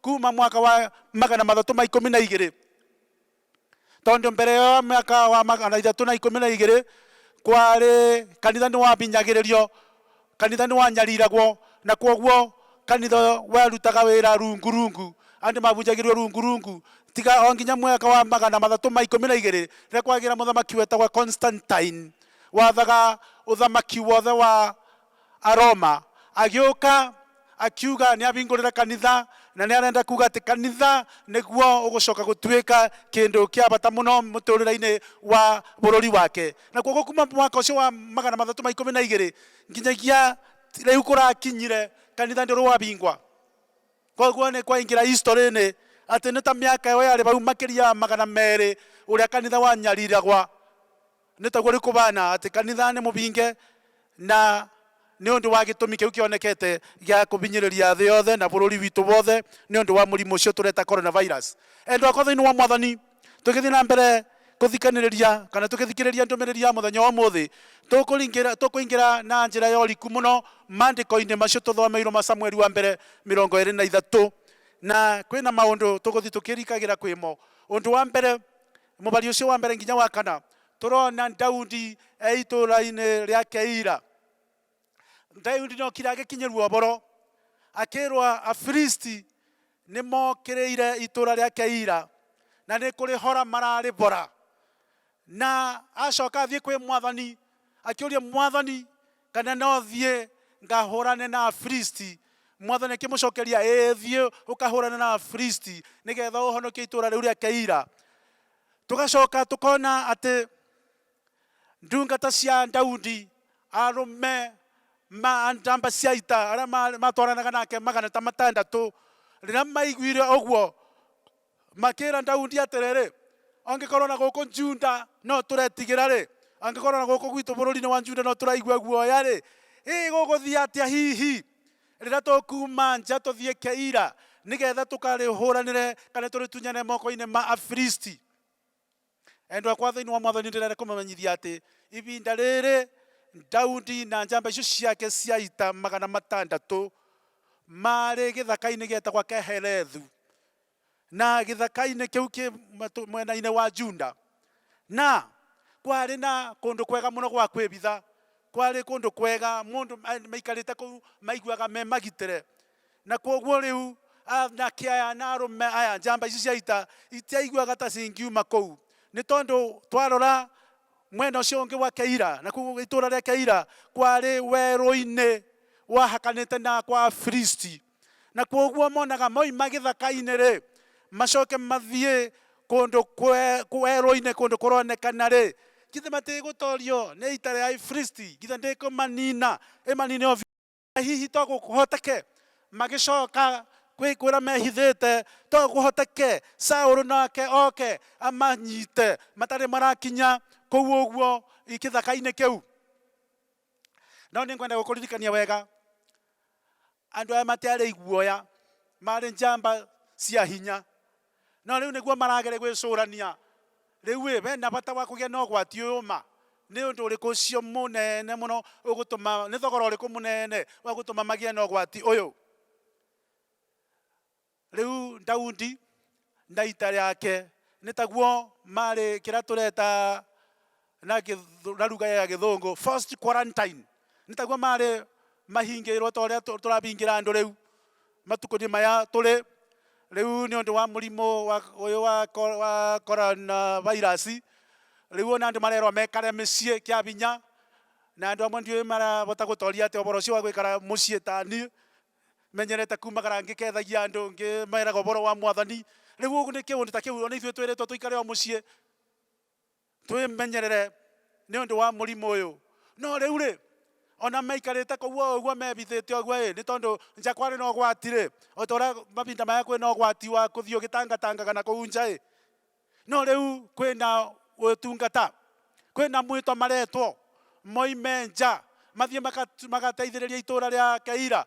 kuma mwaka wa magana matatũ ma ikũmi na igĩrĩ. Tondũ mbere ĩyo ya mwaka wa magana ithatũ na ikũmi na igĩrĩ kwarĩ kanitha nĩ wabinyagĩrĩrio, kanitha nĩ wanyariragwo, na kwoguo kanitha warutaga wĩra rungu rungu, andũ mabunjagĩrio rungu rungu, tiga o nginya mwaka wa magana matatũ ma ikũmi na igĩrĩ rĩrĩa kwagĩire mũthamaki wetagwo Constantine, wathaga ũthamaki wothe wa Aroma, agĩũka akiuga nĩabingũrĩre kanitha na nĩarenda kuga atĩ kanitha nĩguo ũgũcoka gũtuĩka kĩndũ kĩa bata mũno mũtũrĩre-inĩ wa bũrũri wake. Na kwoguo kuma mwaka ũcio wa magana matatũ ma ikũmi na igĩrĩ nginyagia rĩu kũrakinyire, kanitha ndũrĩ wabingwa. Kwoguo nĩ kwaingĩra history-inĩ atĩ nĩ ta mĩaka ĩyo yarĩ bau makĩria ya magana merĩ ũrĩa kanitha wanyariragwa. Nĩ taguo rĩu kũbaana atĩ kanitha nĩ mũbinge, na nĩ ũndũ wa gĩtũmi kĩu kĩonekete gĩa kũbinyĩrĩria thĩ yothe na bũrũri witũ wothe nĩ ũndũ wa mũrimũ ũcio tũreta coronavirus. Endwa akwa thĩinĩ wa Mwathani, tũgĩthiĩ na mbere kũthikanĩrĩria kana tũgĩthikĩrĩria ndũmĩrĩri ya mũthenya wa ũmũthĩ, tũkũingĩra na njĩra ya ũriku mũno maandĩko-inĩ macio tũthomeirũo ma Samueli wa Mbere mĩrongo ĩĩrĩ na ithatũ. Na kwĩna maũndũ tũgũthiĩ tũkĩrikagĩra kwĩmo. Ũndũ wa mbere, Mũbari ũcio wa mbere nginya wa kana, tũrona Daudi e itũũra-inĩ rĩa Keila. Daudi nĩ okire agĩkinyĩrwo ũboro, akĩrwo Afilisti nĩ mokĩrĩire itũũra rĩa Keila na nĩ kũrĩhora mararĩbora. Na acoka athiĩ kwĩ mwathani akĩũria mwathani, Kana no thiĩ ngahũrane na Afilisti? Mwathani akĩmũcokeria, Ĩĩ, thiĩ ũkahũrane na Afilisti nĩ getha ũhonokie itũũra rĩu rĩa Keila. Tũgacoka tũkona atĩ ndungata cia Daudi, arũme ma njamba cia ita arĩa ma- matwaranaga nake magana ta matandatũ, rĩrĩa maiguire ũguo, Makĩĩra Daudi atĩrĩrĩ, Angĩkorwo na gũkũ Juda no tũretigĩra-rĩ, angĩkorwo na gũkũ gwitũ bũrũri-inĩ wa Juda no tũraigua guoya-rĩ, ĩ gũgũthiĩ atĩa hihi rĩrĩa tũkuuma nja tũthiĩ Keila nĩgeetha tũkarĩhũũranĩre kana tũrĩtunyane moko-inĩ ma Afilisti? Endwa akwa thĩinĩ wa Mwathani, nĩndĩrenda kũmũmenyithia atĩ ivinda rĩrĩ Daudi na njamba icio ciake cia ita magana matandatũ maarĩ gĩthaka-inĩ gĩetagwa Kehelethu, na gĩthaka-inĩ kĩu kĩ mwena-inĩ wa Juda, na kwarĩ na kũndũ kwega mũno gwa kwĩvitha, kwarĩ kũndũ kwega mũndũ maikarĩte kũu maiguaga me magitĩre, Na kwoguo rĩu aanake aya na arũme aya, njamba ici cia ita, itiaiguaga ta cingiuma kũu, nĩ tondũ twarora mwena ũcio ũngĩ wa Keila, na kũu itũũra rĩa Keila kwarĩ werũ-inĩ wahakanĩte na kwa Afilisti. Na kwoguo monaga moima gĩthaka-inĩ-rĩ, macoke mathiĩ kũndũ werũ-inĩ, kũndũ kũronekana-rĩ, githĩ matigũtorio nĩ ita rĩa Afilisti? Githĩ ndĩkũmaniina, ĩmaniine o biũ? hihi to gũkũhoteke magĩcoka kwĩkwĩra mehithĩte to gũkũhoteke saũlũ nake oke amanyite matarĩ marakinya kũu ũguo gĩthaka-inĩ kĩu no nĩ ngwenda gũkũririkania wega andũ aya matiarĩ iguoya marĩ njamba cia hinya No rĩu nĩguo maragere gwĩcũrania, 'Rĩu-ĩ, we na bata wa kũgĩa na ũgwati ũyũ ma, nĩ ũndũ ũrĩkũ ũcio mũnene mũno ũgũtũma, nĩ thogora ũrĩkũ mũnene wa gũtũma magĩe na ũgwati ũyũ? Rĩu Daudi na ita rĩake nĩ taguo marĩkĩra tũreta na gĩthũ- na ruga ya gĩthũngũ first quarantine nĩ taguo marĩ mahingĩirwo ta ũrĩa tũ- tũrahingĩra andũ rĩu matukũ-inĩ maya tũrĩ rĩu nĩ ũndũ wa mũrimũ wa- ũyũ wa ko- wa corona virus rĩu ona andũ marerwo mekare mĩciĩ kĩa binya na andũ amwe ndiũĩ marahota gũtoria atĩ ũboro ũcio wa gwĩkara mũciĩ ta niĩ menyerete kumagara ngĩkethagia andũ ngĩmeraga ũboro wa mwathani rĩu ũguo nĩ kĩũndũ ta kĩu ona ithuĩ twĩrĩtwo tũikare o mũciĩ Twĩmenyerere nĩ ũndũ wa mũrimũ ũyũ. No rĩu-rĩ, o na maikarĩte kũu o ũguo mebithĩte ũguo-ĩ, nĩ tondũ nja kwarĩ na ũgwati-rĩ, o ta ũrĩa mahinda maya kwĩ na ũgwati wa gũthiĩ ũgĩtangatangaga na kũu nja-ĩ, no rĩu kwĩ na ũtungata, kwĩ na mwĩto maretwo moime nja mathiĩ magateithĩrĩrie itũũra rĩa Keila.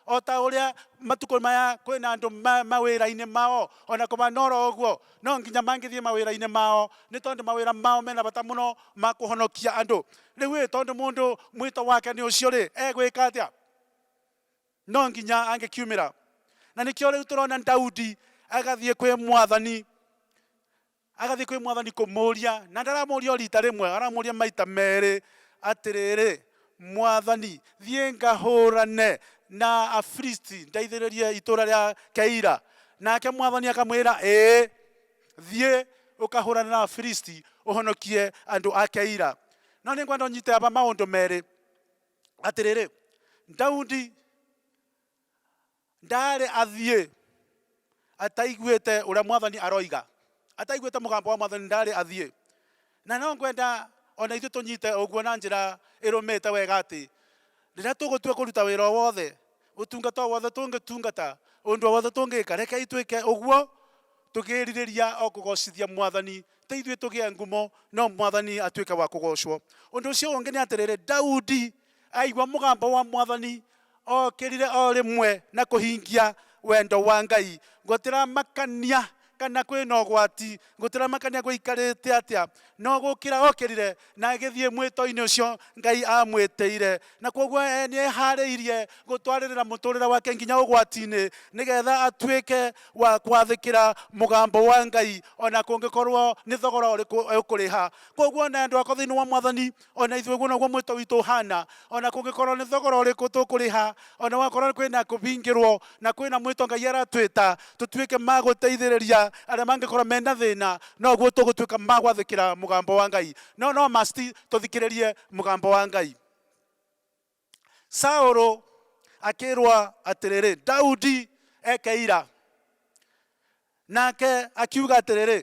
O ta ũrĩa matukũ maya kwĩna andũ ma, mawĩra-inĩ mao, o na kũbana oro ũguo, no nginya mangĩthiĩ mawĩra-inĩ mao, nĩ tondũ mawĩra mao mena bata mũno ma kũhonokia andũ. Rĩu-ĩ, tondũ mũndũ mwĩto wake nĩ ũcio-rĩ, egwĩka atĩa? No nginya angĩkiumĩra. Na nĩkĩo rĩu tũrona Daudi agathiĩ kwĩ mwathani. Agathiĩ kwĩ mwathani kũmũũria, na ndaramũũria o riita rĩmwe, aramũũria maita meerĩ, Atĩrĩrĩ, mwathani, thiĩ ngahũũrane na Afilisti, ndeithĩrĩrie itũũra rĩa Keila. Nake mwathani akamwĩra, Ĩĩ, thiĩ ũkahũũrane na Afilisti, ũhonokie andũ a Keila. No nĩngwenda ũnyite haha maũndũ meerĩ, atĩrĩrĩ, Daudi Ndaarĩ athiĩ ataiguĩte ũrĩa Mwathani aroiga, ataiguĩte mũgambo wa Mwathani ndaarĩ athiĩ. Na no ngwenda o na ithuĩ tũnyite ũguo na njĩra ĩrũmĩte wega atĩ, rĩrĩa tũgũtua kũruta wĩra o wothe, ũtungata o wothe tũngĩtungata, ũndũ o wothe tũngĩka, rekei twĩke ũguo tũkĩĩrirĩria o kũgoocithia Mwathani, ti ithuĩ tũgĩe ngumo, no Mwathani atuĩke wa kũgoocwo. Ũndũ ũcio ũngĩ nĩ atĩrĩrĩ, Daudi, Aigua mũgambo wa Mwathani, ookĩrire o rĩmwe na kũhingia wendo wa Ngai. Gũtiramakania kana kwĩ na ũgwati, gũtiramakania gwaikarĩte atĩa, no gũũkĩra ookĩrire na agĩthiĩ mwĩto-inĩ ũcio Ngai aamwĩtĩire. Na kwoguo e nĩ eharĩirie gũtwarĩrĩra mũtũrĩre wake nginya ũgwati-inĩ nĩ getha atuĩke wa kwathĩkĩra mũgambo wa Ngai o na kũngĩkorwo nĩ thogora ũrĩkũ ekũrĩha. Kwoguo o na endwa akwa thĩinĩ wa Mwathani, O na ithuĩ ũguo noguo mwĩto witũ ũhaana. O na kũngĩkorwo nĩ thogora ũrĩkũ tũkũrĩha, o na gwakorwo kwĩ na kũhingĩrwo, na kwĩ na mwĩto Ngai aratwĩta tũtuĩke ma gũteithĩrĩria arĩa mangĩkorwo me na thĩna, noguo tũgũtuĩka ma gwathĩkĩra mũgambo wa Ngai. No no must tũthikĩrĩrie mũgambo wa Ngai. Saũlũ akĩĩrwo atĩrĩrĩ, Daudi eke ira. Nake akiuga atĩrĩrĩ,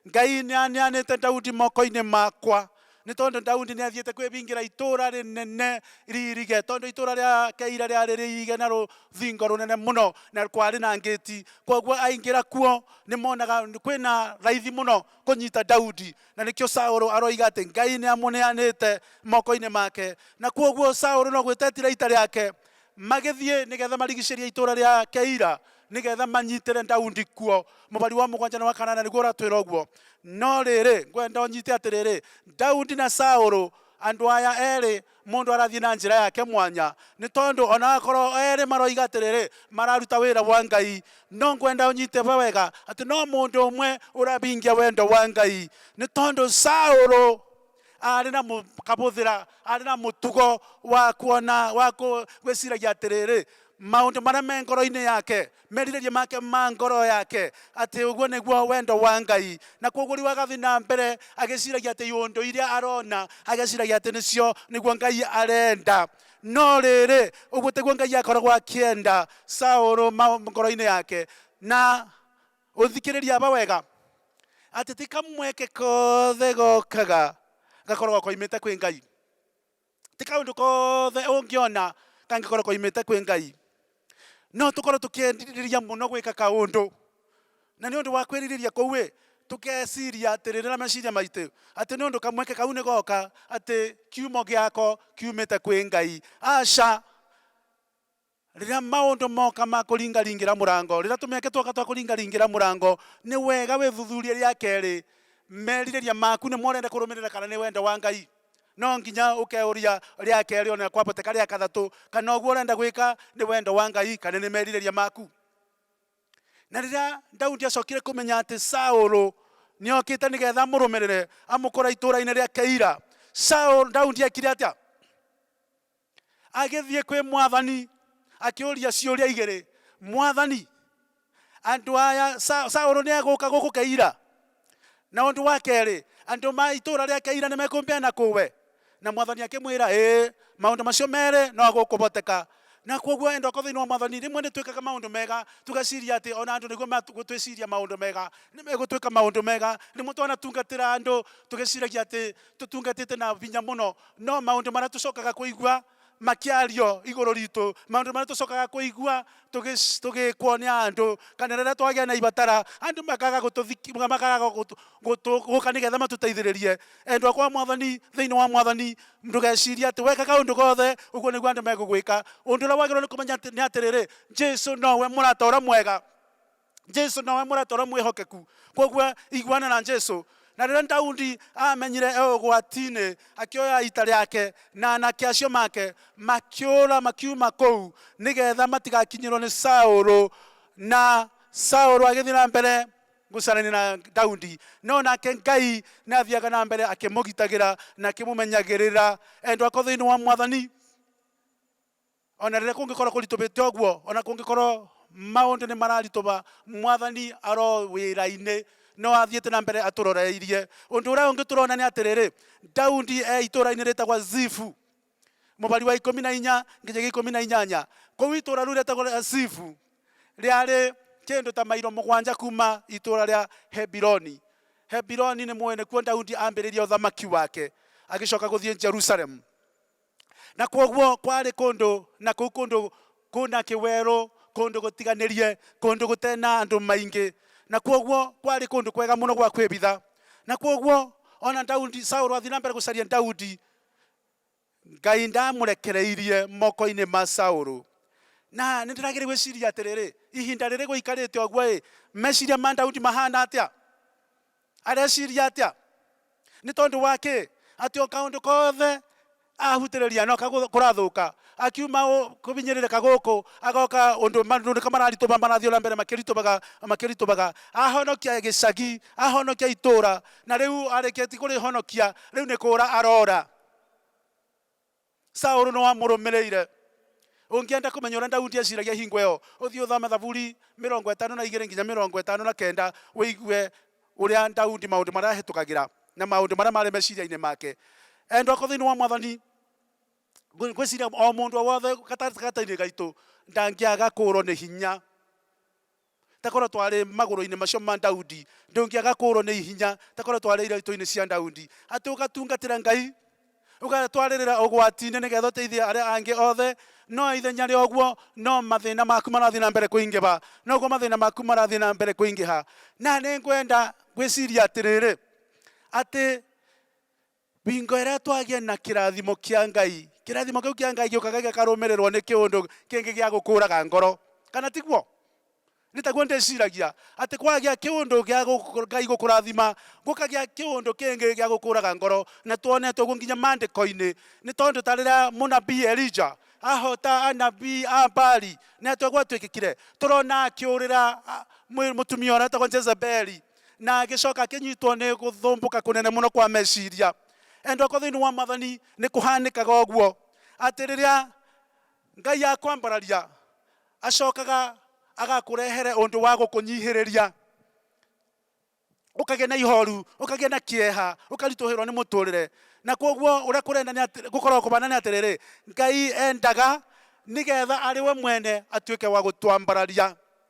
Ngai nĩaneanĩte Daudi moko-inĩ makwa, nĩ tondũ Daudi nĩathiĩte kwĩbingĩra itũũra rĩnene riirige, tondũ itũũra rĩa Keila rĩarĩ rĩirige na rũthingo rũnene mũno, na kwarĩ na ngĩti. Kwoguo aingĩra kuo nĩmonaga kwĩna raithi mũno kũnyita Daudi, na nĩkĩo Saũlũ aroiga atĩ Ngai nĩamũneanĩte moko-inĩ make. Na kwoguo Saũlũ no gwĩta etira ita rĩake, magĩthiĩ nĩgetha marigicĩrie itũũra rĩa Keila, nĩgetha manyitĩre Daudi kuo. Mũbari wa mũgwanja na wa kanana nĩguo ũratwĩra ũguo. No rĩrĩ, ngwenda ũnyite atĩrĩrĩ, Daudi na Saũlũ, andũ aya erĩ Mũndũ arathiĩ na njĩra yake mwanya, nĩ tondũ o na akorwo erĩ maroiga atĩrĩrĩ, mararuta wĩra wa Ngai, no ngwenda ũnyite ũhoro wega atĩ no mũndũ ũmwe ũrahingia wendo wa Ngai. Nĩ tondũ Saũlũ arĩ na kabũthĩra, arĩ na mũtugo wa kuona, wa gwĩciragia atĩrĩrĩ, maũndũ marĩa me ngoro-inĩ yake merirĩria make ma ngoro yake, atĩ ũguo nĩguo wendo wa Ngai. Na kwoguo rĩu agathiĩ na mbere agĩciragia atĩ iũndũ iria arona, ageciragia atĩ nĩcio nĩguo Ngai arenda. No rĩrĩ, ũguo tĩguo Ngai akoragwo akĩenda. Saũlũ ma- ngoro-inĩ yake. Na ũthikĩrĩria aba wega, atĩ ti kamweke kothe gokaga gakoragwo koimĩte kwĩ Ngai. Ti kaũndũ kothe ũngĩona kangĩkorwo koimĩte kwĩ Ngai. No tũkorwo tũkĩerirĩria mũno gwĩka kaũndũ, na nĩ ũndũ wa kwĩrirĩria kũu-ĩ, tũkeciria atĩrĩrĩ na meciria maitũ, atĩ nĩ ũndũ kamweke kau nĩ goka, atĩ kiumo gĩako kiumĩte kwĩ Ngai. Aca! Rĩrĩa maũndũ moka ma kũringaringĩra mũrango, rĩrĩa tũmĩeke twoka twa kũringaringĩra mũrango, nĩ wega wĩthuthurie rĩa kerĩ, merirĩria maku nĩmo ũrenda kũrũmĩrĩra kana nĩ wendo wa Ngai. No nginya ũkeũria rĩa kerĩ ona kwaboteka rĩa kathatũ kana ũguo ũrenda gwĩka nĩ wendo wa Ngai kana nĩ merirĩria maku. Na rĩrĩa Daudi acokire kũmenya atĩ Saũlũ nĩ okĩte nĩgetha amũrũmĩrĩre amũkora itũũra-inĩ rĩa Keila, Saũlũ, Daudi ekire atĩa? Agĩthiĩ kwĩ mwathani akĩũria ciũria igĩrĩ, Mwathani, andũ aya, Sa- Saũlũ nĩegũka gũkũ Keila? Na ũndũ wa kerĩ, andũ ma itũũra rĩa Keila nĩmekũmbeana kũwe? Na mwathani akĩmwĩra, Ĩĩ, maũndũ macio merĩ no gũkũhoteka. Na kwoguo enda ũkorwo thĩinĩ wa mwathani. Rĩmwe nĩtwĩkaga maũndũ mega tũgeciria atĩ ona andũ nĩguo magũtwĩciria maũndũ mega, nĩmegũtwĩka maũndũ mega. Rĩmwe twanatungatĩra andũ tũgĩciragia atĩ tũtungatĩte na hinya mũno, no maũndũ marĩa tũcokaga kũigua makiario igũrũ ritũ maũndũ marĩa tũcokaga kũigua tũgĩ- tũgĩkwo nĩ andũ kana rĩrĩa twagĩa na ibatara andũ makaga gũtũthiki- makaga gũtũ- gũtũ- gũka nĩgetha matũteithĩrĩrie endwa kwa mwathani thĩinĩ wa mwathani ndũgecirie atĩ weka kaũndũ gothe ũguo nĩguo andũ megũgwĩka ũndũ ũrĩa wagĩrĩirwo nĩ kũmenya atĩ- nĩ atĩrĩrĩ jesu nowe mũrata ũrĩa mwega jesu nowe mũrata ũrĩa mwĩhokeku koguo iguana na jesu na rĩrĩa daudi amenyire e ũgwati-inĩ akĩoya ita rĩake na anake acio make makĩũra makiuma kũu nĩgetha matigakinyĩrwo nĩ saũlũ na saũlũ agĩthiĩ na mbere gũcarania na daudi no nake ngai nĩ athiaga na mbere akĩmũgitagĩra na akĩmũmenyagĩrĩra endwa ko thĩinĩ wa mwathani O na rĩrĩa kũngĩkorwo kũritũhĩte ũguo, o na kũngĩkorwo maũndũ nĩ mararitũha, Mwathani aro wĩra-inĩ. No athiĩte na mbere atũroreirie. Ũndũ ũrĩa ũngĩ tũrona nĩ atĩrĩrĩ, Daudi e itũũra-inĩ rĩtagwo Zifu, mũbari wa ikũmi na inya nginyagia ikũmi na inyanya. Kũu itũũra rĩu rĩtagwo rĩa Zifu rĩarĩ kĩndũ ta mairo mũgwanja kuuma itũũra rĩa Hebironi. Hebironi nĩmũĩ nĩkuo Daudi ambĩrĩirie ũthamaki wake agĩcoka gũthiĩ Jerusalemu. Na kwoguo kwarĩ kũndũ, na kũu kũndũ kũna kĩwerũ, kũndũ gũtiganĩrie, kũndũ gũtarĩ na andũ maingĩ, na kwoguo kwarĩ kũndũ kwega mũno gwa kwĩbitha. Na kwoguo o na Daudi, Saũlũ athiĩ na mbere gũcaria Daudi, Ngai ndaamũrekereirie moko-inĩ ma Saũlũ. Na nĩ ndĩrageria gwĩciria atĩrĩrĩ, ihinda rĩrĩ gũikarĩte ũguo-ĩ, meciria ma Daudi mahana atĩa? Areciria atĩa? Nĩ tondũ wa kĩ? Atĩ o kaũndũ kothe ahutĩrĩria no kaguo kũrathũka. Akiuma kũhinyĩrĩrĩka gũkũ, agoka ũndũ maũndũ nĩko mararitũha, marathiĩ o na mbere makĩritũhaga, makĩritũhaga. Ahonokia gĩcagi, ahonokia itũũra, na rĩu arĩkĩtie kũrĩhonokia, rĩu nĩ kũũra aroora. Saulu no amũrũmĩrĩire. Ũngĩenda kũmenya ũrĩa Daudi eciragia hingo ĩyo, ũthiĩ ũthome Thaburi mĩrongo ĩtano na igĩrĩ nginya mĩrongo ĩtano na kenda ũigue ũrĩa Daudi maũndũ marĩa ahĩtũkagĩra na maũndũ marĩa marĩ meciria-inĩ make. Endwa akwa thĩinĩ wa Mwathani, ngwĩciria o mũndũ o wothe gatagatĩ-inĩ gaitũ ndangĩaga kũũrwo nĩ hinya. Ta korwo twarĩ magũrũ-inĩ macio ma Daudi, ndũngĩaga kũũrwo nĩ hinya, ta korwo twarĩ iraatũ-inĩ cia Daudi. Atĩ ũgatungatĩra Ngai, ũgatwarĩrĩra ũgwati-inĩ nĩgeetha ũteithie arĩa angĩ othe, no ithenya rĩa ũguo, no mathĩna maku marathiĩ na mbere kũingĩha. Noguo mathĩna maku marathiĩ na mbere kũingĩha. Na nĩ ngwenda ngwĩcirie atĩrĩrĩ, atĩ Hingo ĩrĩa twagĩa na kĩrathimo kĩa Ngai, kĩrathimo kĩu kĩa Ngai gĩũkaga gĩkarũmĩrĩrwo nĩ kĩũndũ kĩngĩ gĩa gũkũraga ngoro, kana tiguo? Nĩ taguo ndĩciragia, atĩ kwagĩa kĩũndũ gĩa Ngai gũkũrathima, gũkagĩa kĩũndũ kĩngĩ gĩa gũkũraga ngoro, na tuonete ũguo nginya maandĩko-inĩ, nĩ tondũ ta rĩrĩa mũnabii Elija ahota anabii a Baali, nĩ atĩa gwatuĩkĩkire? Tũrona akĩũrĩra mũtumia ũrĩa wetagwo Jezebeli. na agĩcoka akĩnyitwo nĩ gũthumbũka kũnene mũno kwa meciria. Endwa akwa thĩinĩ wa Mwathani, nĩ kũhanĩkaga ũguo atĩ rĩrĩa Ngai akwambararia, acokaga agakũrehere ũndũ wa gũkũnyihĩrĩria, ũkagĩa na ihoru, ũkagĩa na kĩeha, ũkaritũhĩrwo nĩ mũtũrĩre. Na koguo ũrĩa kũrenda nĩ atĩ, gũkoragwo kũbana nĩ atĩrĩrĩ, Ngai endaga nĩgetha arĩ we mwene atuĩke wa gũtwambararia.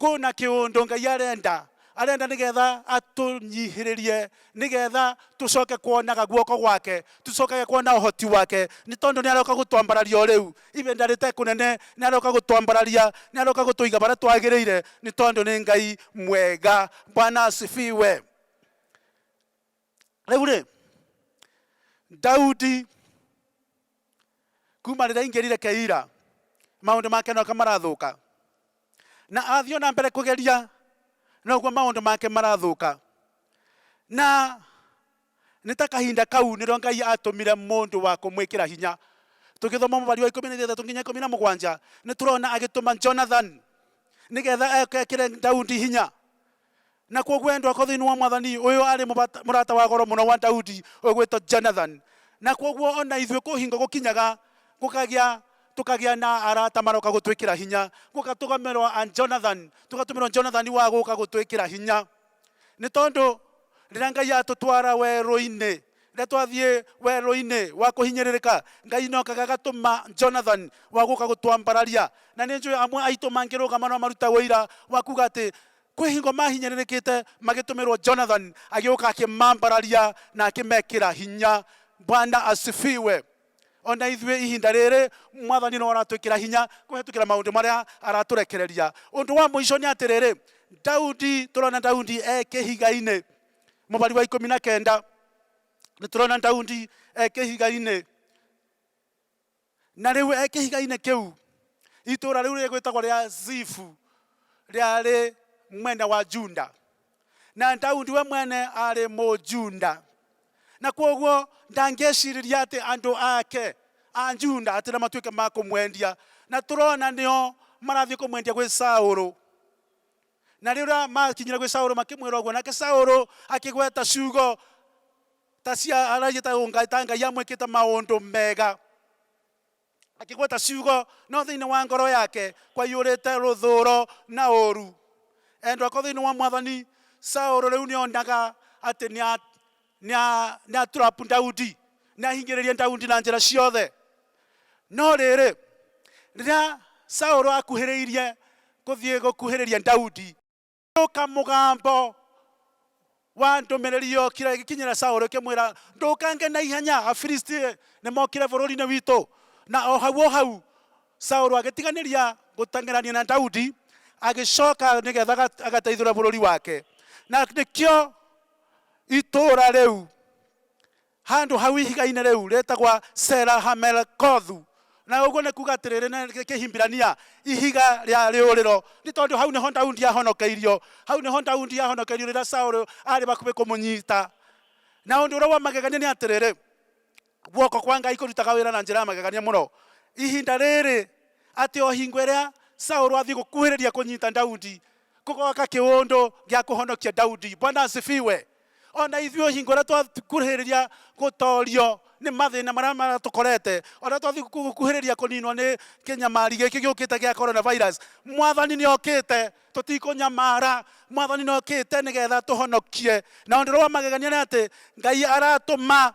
Kũ na kĩũndũ Ngai arenda. Arenda nĩ getha atũnyihĩrĩrie, nĩ getha tũcoke kuonaga guoko gwake, tũcokage kuona ũhoti wake, nĩ tondũ nĩ aroka gũtwambararia o rĩu, ibinda rĩte kũnene nĩ aroka gũtwambararia, nĩ aroka gũtũiga barĩa twagĩrĩire, nĩ tondũ nĩ Ngai mwega. Bwana asifiwe. Rĩu-rĩ, Daudi kuma rĩrĩa aingĩrire Keila, maũndũ make noka marathũka, na athiĩ ona mbere kũgeria noguo maũndũ make marathũka. Na nĩ ta kahinda kau nĩrĩo Ngai atũmire mũndũ wa kũmwĩkĩra hinya. Tũngĩthoma Mũhari wa ikũmi na ithathatũ nginya ikũmi na mũgwanja, nĩtũrona agĩtũma Jonathan nĩgetha ekĩre Daudi hinya. Nakuo gwendwa ko thiini wa Mwathani, uyu ari murata wa goro muno wa Daudi ugwitwo Jonathan. Na koguo ona ithui ku hingo gukinyaga gukagia tukagia na arata maroka gutwikira hinya, gukatugamirwa a Jonathan, tugatumirwa Jonathan wa guka gutwikira hinya. Ni tondu riria Ngai atutwara werũ-ini, Rĩrĩa twathiĩ werũ-inĩ wa kũhinyĩrĩrĩka, Ngai nĩ okaga agatũma Jonathan wa gũka gũtwambararia. Na nĩ njũĩ amwe aitũ mangĩrũgama no marute ũira wa kuga atĩ kwĩ hingo mahinyĩrĩrĩkĩte magĩtũmĩrwo Jonathan agĩũka akĩmambararia na akĩmekĩra hinya. Bwana asifiwe. O na ithuĩ ihinda rĩrĩ Mwathani no aratwĩkĩra hinya kũhetũkĩra maũndũ marĩa aratũrekereria. Ũndũ wa mũico nĩ atĩrĩrĩ, Daudi, tũrona Daudi e kĩhiga-inĩ. Mũbari wa ikũmi na kenda nĩ tũrona Daudi e kĩhiga-inĩ. Na rĩu e kĩhiga-inĩ kĩu itũũra rĩu rĩgwĩtagwo rĩa Zifu rĩarĩ mwena wa Juda. Na Daudi we mwene arĩ Mũjunda. Na kwoguo ndangĩcirĩria atĩ andũ ake a Juda atĩ na matuĩke ma kũmwendia. Na tũrona nĩo marathiĩ kũmwendia gwĩ Saũlũ. Na rĩrĩa maakinyire gwĩ Saũlũ makĩmwĩra ũguo, nake Saũlũ akĩgweta ciugo ta cia aragia ta ũnga- ta Ngai amwĩkĩte maũndũ mega. Akĩgweta ciugo, no thĩinĩ wa ngoro yake kwaiyũrĩte rũthũũro na ũũru. Endwa akwa thĩinĩ wa Mwathani, Saũlũ rĩu nĩonaga atĩ nĩa- Nĩ atrap Daudi, nĩ ahingĩrĩria Daudi na njĩra ciothe. No rĩrĩ, rĩrĩa Saũlũ akuhĩrĩirie gũthiĩ gũkuhĩrĩria Daudi, gũka mũgambo wa ndũmĩrĩri yokire ĩgĩkinyĩra Saũlũ ĩkĩmwĩra, ndũkange na ihenya, Afilisti nĩ mokire bũrũri-inĩ witũ. Na o hau o hau Saũlũ agĩtiganĩria gũteng'erania na Daudi, agĩcoka nĩgetha agateithũre bũrũri wake. Na nĩkĩo Itũũra rĩu, handũ hau ihiga-inĩ rĩu, rĩĩtagwo Sela-Hamelekothu, na ũguo nĩ kuuga atĩrĩrĩ na Kĩhibirania, Ihiga rĩa Rĩũrĩro, nĩ tondũ hau nĩho Daudi aahonokeirio. Hau nĩho Daudi aahonokeirio rĩrĩa Saũlũ aarĩ hakuhĩ kũmũnyita. Na ũndũ ũrĩa wa magegania nĩ atĩrĩrĩ, Guoko kwa Ngai kũrutaga wĩra na njĩra ya magegania mũno ihinda rĩrĩ, atĩ o hingo ĩrĩa Saũlũ athiĩ gũkuhĩrĩria kũnyita Daudi, kũgoka kĩũndũ gĩa kũhonokia Daudi. Bwana asifiwe! O na ithuĩ hingo ĩrĩa twakuhĩrĩria gũtoorio nĩ mathĩna marĩa maratũkorete, o na twathiĩ gũkuhĩrĩria kũninwo nĩ kĩnyamari gĩkĩ gĩũkĩte gĩa Coronavirus, Mwathani nĩ okĩte tũtikũnyamara mwathani nokĩte nĩgetha tũhonokie na ũndũ ũrĩa wa magegania nĩ atĩ ngai aratũma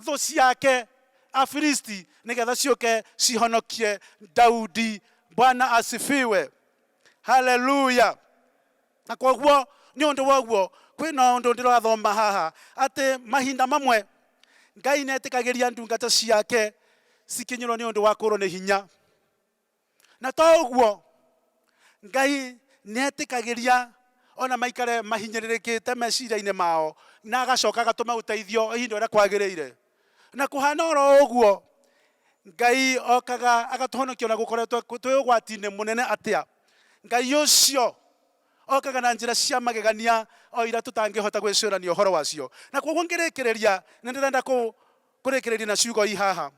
thũ ciake afilisti nĩgetha ciũke cihonokie daudi bwana asifiwe haleluya na koguo nĩ ũndũ woguo kwĩna ũndũ ndĩrathoma haha atĩ mahinda mamwe ngai nĩetĩkagĩria ndungata ciake cikinyĩrwo nĩ ũndũ wa kũrwo nĩ hinya Na to ũguo, Ngai nĩ etĩkagĩria o na maikare mahinyĩrĩrĩkĩte meciria-inĩ mao na agacoka agatũma ũteithio o ihinda ũrĩa kwagĩrĩire. Na kũhana o ro ũguo, Ngai okaga agatũhonokia o na gũkoretwo twĩ ũgwati-inĩ mũnene atĩa, Ngai ũcio okaga na njĩra cia magegania o iria tũtangĩhota gwĩcũrania ũhoro wacio. Na kwoguo ngĩrĩkĩrĩria, nĩ ndĩrenda kũrĩkĩrĩria na ciugo ici haha.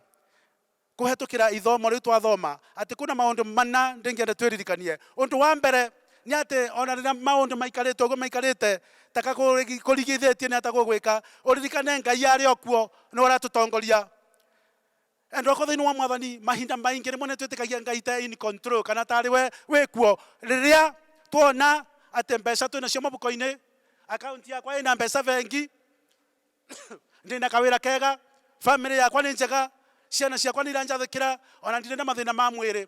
Kũhetũkĩra ithomo rĩu twathoma atĩ kwĩna maũndũ mana ndĩngĩenda twĩririkanie. Ũndũ wa mbere nĩ atĩ o na rĩrĩa maũndũ maikarĩte ũguo maikarĩte, ta ka kũrigithĩtie nĩ ata gũgwĩka, ũririkane Ngai arĩ o kuo nĩwe ũratũtongoria. Endwa thĩinĩ wa Mwathani, mahinda maingĩ rĩmwe nĩ twĩtĩkagia Ngai ta e in control kana ta arĩ we wĩ kuo. Rĩrĩa twona atĩ mbeca twĩnacio mũbuko-inĩ, akaunti yakwa ĩna mbeca bengi, Ndĩ na kawĩra kega, famĩlĩ yakwa nĩ njega, ciana ciakwa nĩ iranjathĩkĩra, o na ndirĩ na mathĩna ma mwĩrĩ.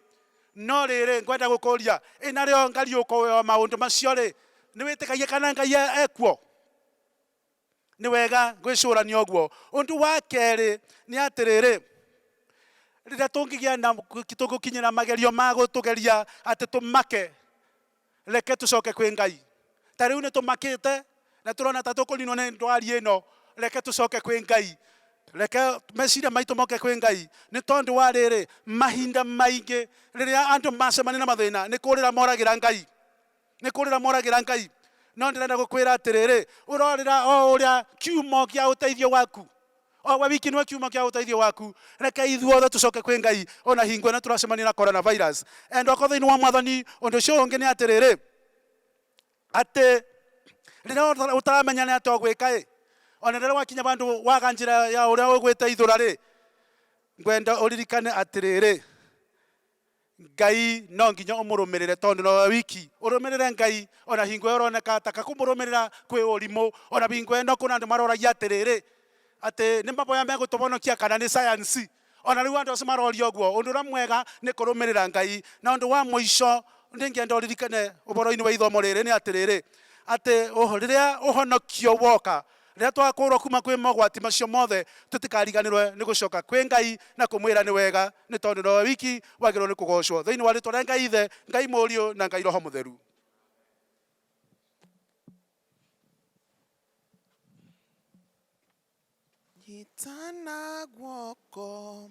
No rĩrĩ, ngwenda gũkũũria, ĩ na rĩo Ngai ũkũũĩ o maũndũ macio-rĩ, nĩ wĩtĩkagia kana Ngai e kuo? Nĩ wega gwĩcũrania ũguo. Ũndũ wa kerĩ nĩ atĩrĩrĩ, rĩrĩa tũngĩgĩa na, tũgũkinyĩra magerio ma gũtũgeria atĩ tũmake, Reke tũcoke kwĩ Ngai. Ta rĩu nĩ tũmakĩte na tũrona ta tũkũninwo nĩ ndwari ĩno. Reke tũcoke kwĩ Ngai. Reke meciria maitũ moke kwĩ Ngai. Nĩ tondũ wa rĩrĩ, mahinda maingĩ rĩrĩa andũ macemania na mathĩna, nĩ kũrĩra moragĩra Ngai. Nĩ kũrĩra moragĩra Ngai. No ndĩrenda gũkwĩra atĩrĩrĩ, ũrorĩra o ũrĩa kiumo gĩa ũteithio waku. O we wiki nĩwe kiuma kĩa ũteithio waku. Reke ithuothe tũcoke kwĩ Ngai o na hingo ĩno tũracemania na coronavirus. Endwa akwa thĩinĩ wa Mwathani, ũndũ ũcio ũngĩ nĩ atĩrĩrĩ, atĩ rĩrĩa ũtaramenya nĩ atĩa ũgwĩka-ĩ, o na rĩrĩa wakinya handũ waga njĩra ya ũrĩa ũgwĩteithũra-rĩ, ngwenda ũririkane atĩrĩrĩ, Ngai no nginya ũmũrũmĩrĩre tondũ no we wiki ũrũmĩrĩre Ngai ona hingo ĩyo ũroneka taka kũmũrũmĩrĩra kwĩ ũrimũ ona hingo ĩno kũna andũ maroragia atĩrĩrĩ atĩ nĩ maboya megũtũbonokia kana nĩ science ona rĩu andũ acio maroria ũguo ũndũ ũrĩa mwega nĩ kũrũmĩrĩra Ngai na ũndũ wa mũico nĩ ngenda ũririkane ũboroinĩ wa ithomo rĩrĩ nĩ atĩrĩrĩ atĩ rĩrĩa ũhonokio woka Rĩrĩa twakũũrwo kuuma kwĩ mogwati macio mothe, tũtikariganĩrũo nĩ gũcoka kwĩ Ngai na kũmwĩra nĩ wega, nĩ tondũ nowe wiki wagĩrĩirũo nĩ kũgoocwo. Thĩinĩ wa rĩĩtwa rĩa Ngai Ithe, Ngai Mũriũ, na Ngai Roho Mũtheru. Nyitana guoko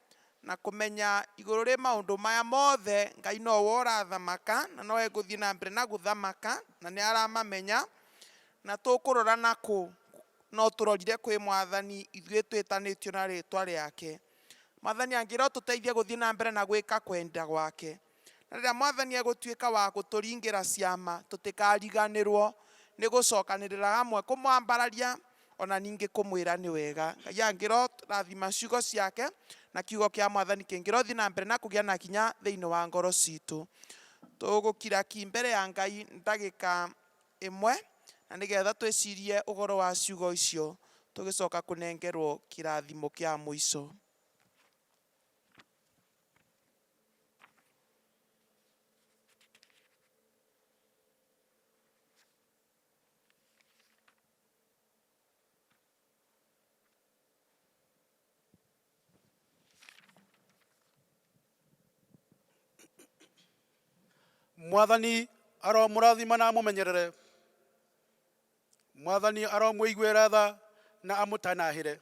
na kũmenya igũrũ rĩ maũndũ maya mothe, Ngai no we ũrathamaka na no egũthiĩ na mbere na gũthamaka na nĩ aramamenya, na tũkũrora na kũ? No tũrorire kwĩ Mwathani ithuĩ twĩtanĩtio na rĩtwa rĩake. Mwathani angĩrotũteithia gũthiĩ na mbere na gwĩka kwenda gwake. Na rĩrĩa Mwathani egũtuĩka wa gũtũringĩra ciama, tũtikariganĩrũo nĩ gũcokanĩrĩra hamwe kũmwambararia o na ningĩ kũmwĩra nĩ wega. Ngai angĩrorathima ciugo ciake na kiugo kĩa Mwathani kĩngĩrothiĩ na mbere na kũgĩa na hinya thĩinĩ wa ngoro citũ, tũgũkira ki mbere ya Ngai ndagĩka ĩmwe na nĩgetha twĩcirie ũhoro wa ciugo icio tũgĩcoka kũnengerũo kĩrathimo kĩa mũico. mwathani aromũrathima na amũmenyerere mwathani aromũiguĩra tha na amũtanahĩre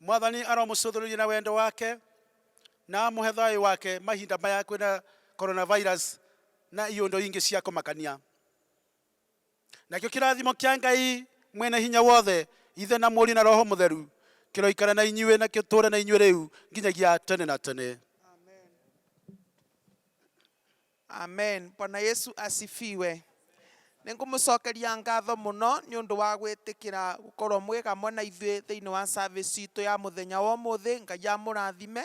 Mwathani aromũcũthĩrĩria na wendo wake na amũhe thayũ wake mahinda maya kwĩna coronavirus na iũndũ ingĩ cia kũmakania. Nakĩo kĩrathimo kĩa Ngai Mwene Hinya Wothe, Ithe na Mũriũ na Roho Mũtheru, kĩroikara na inyuĩ na gĩtũũre na inyuĩ rĩu nginyagia tene na tene. Amen. Amen. Bwana Yesu asifiwe. Nĩ ngũmũcokeria ngatho mũno nĩ ũndũ wa gwĩtĩkĩra gũkorwo mwĩ hamwe na ithuĩ thĩinĩ wa service itũ ya mũthenya wa ũmũthĩ. Ngai amũrathime,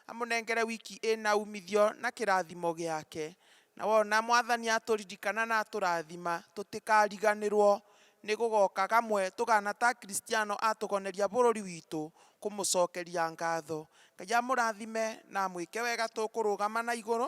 amũnengere wiki ĩna umithio na kĩrathimo gĩake. Na wona mwathani atũririkana na atũrathima, tũtikariganĩrwo nĩ gũgoka gamwe tũgana ta Kristiano atũgoneria bũrũri witũ kũmũcokeria ngatho. Ngai amũrathime na amwĩke wega tũkũrũgama na igũrũ.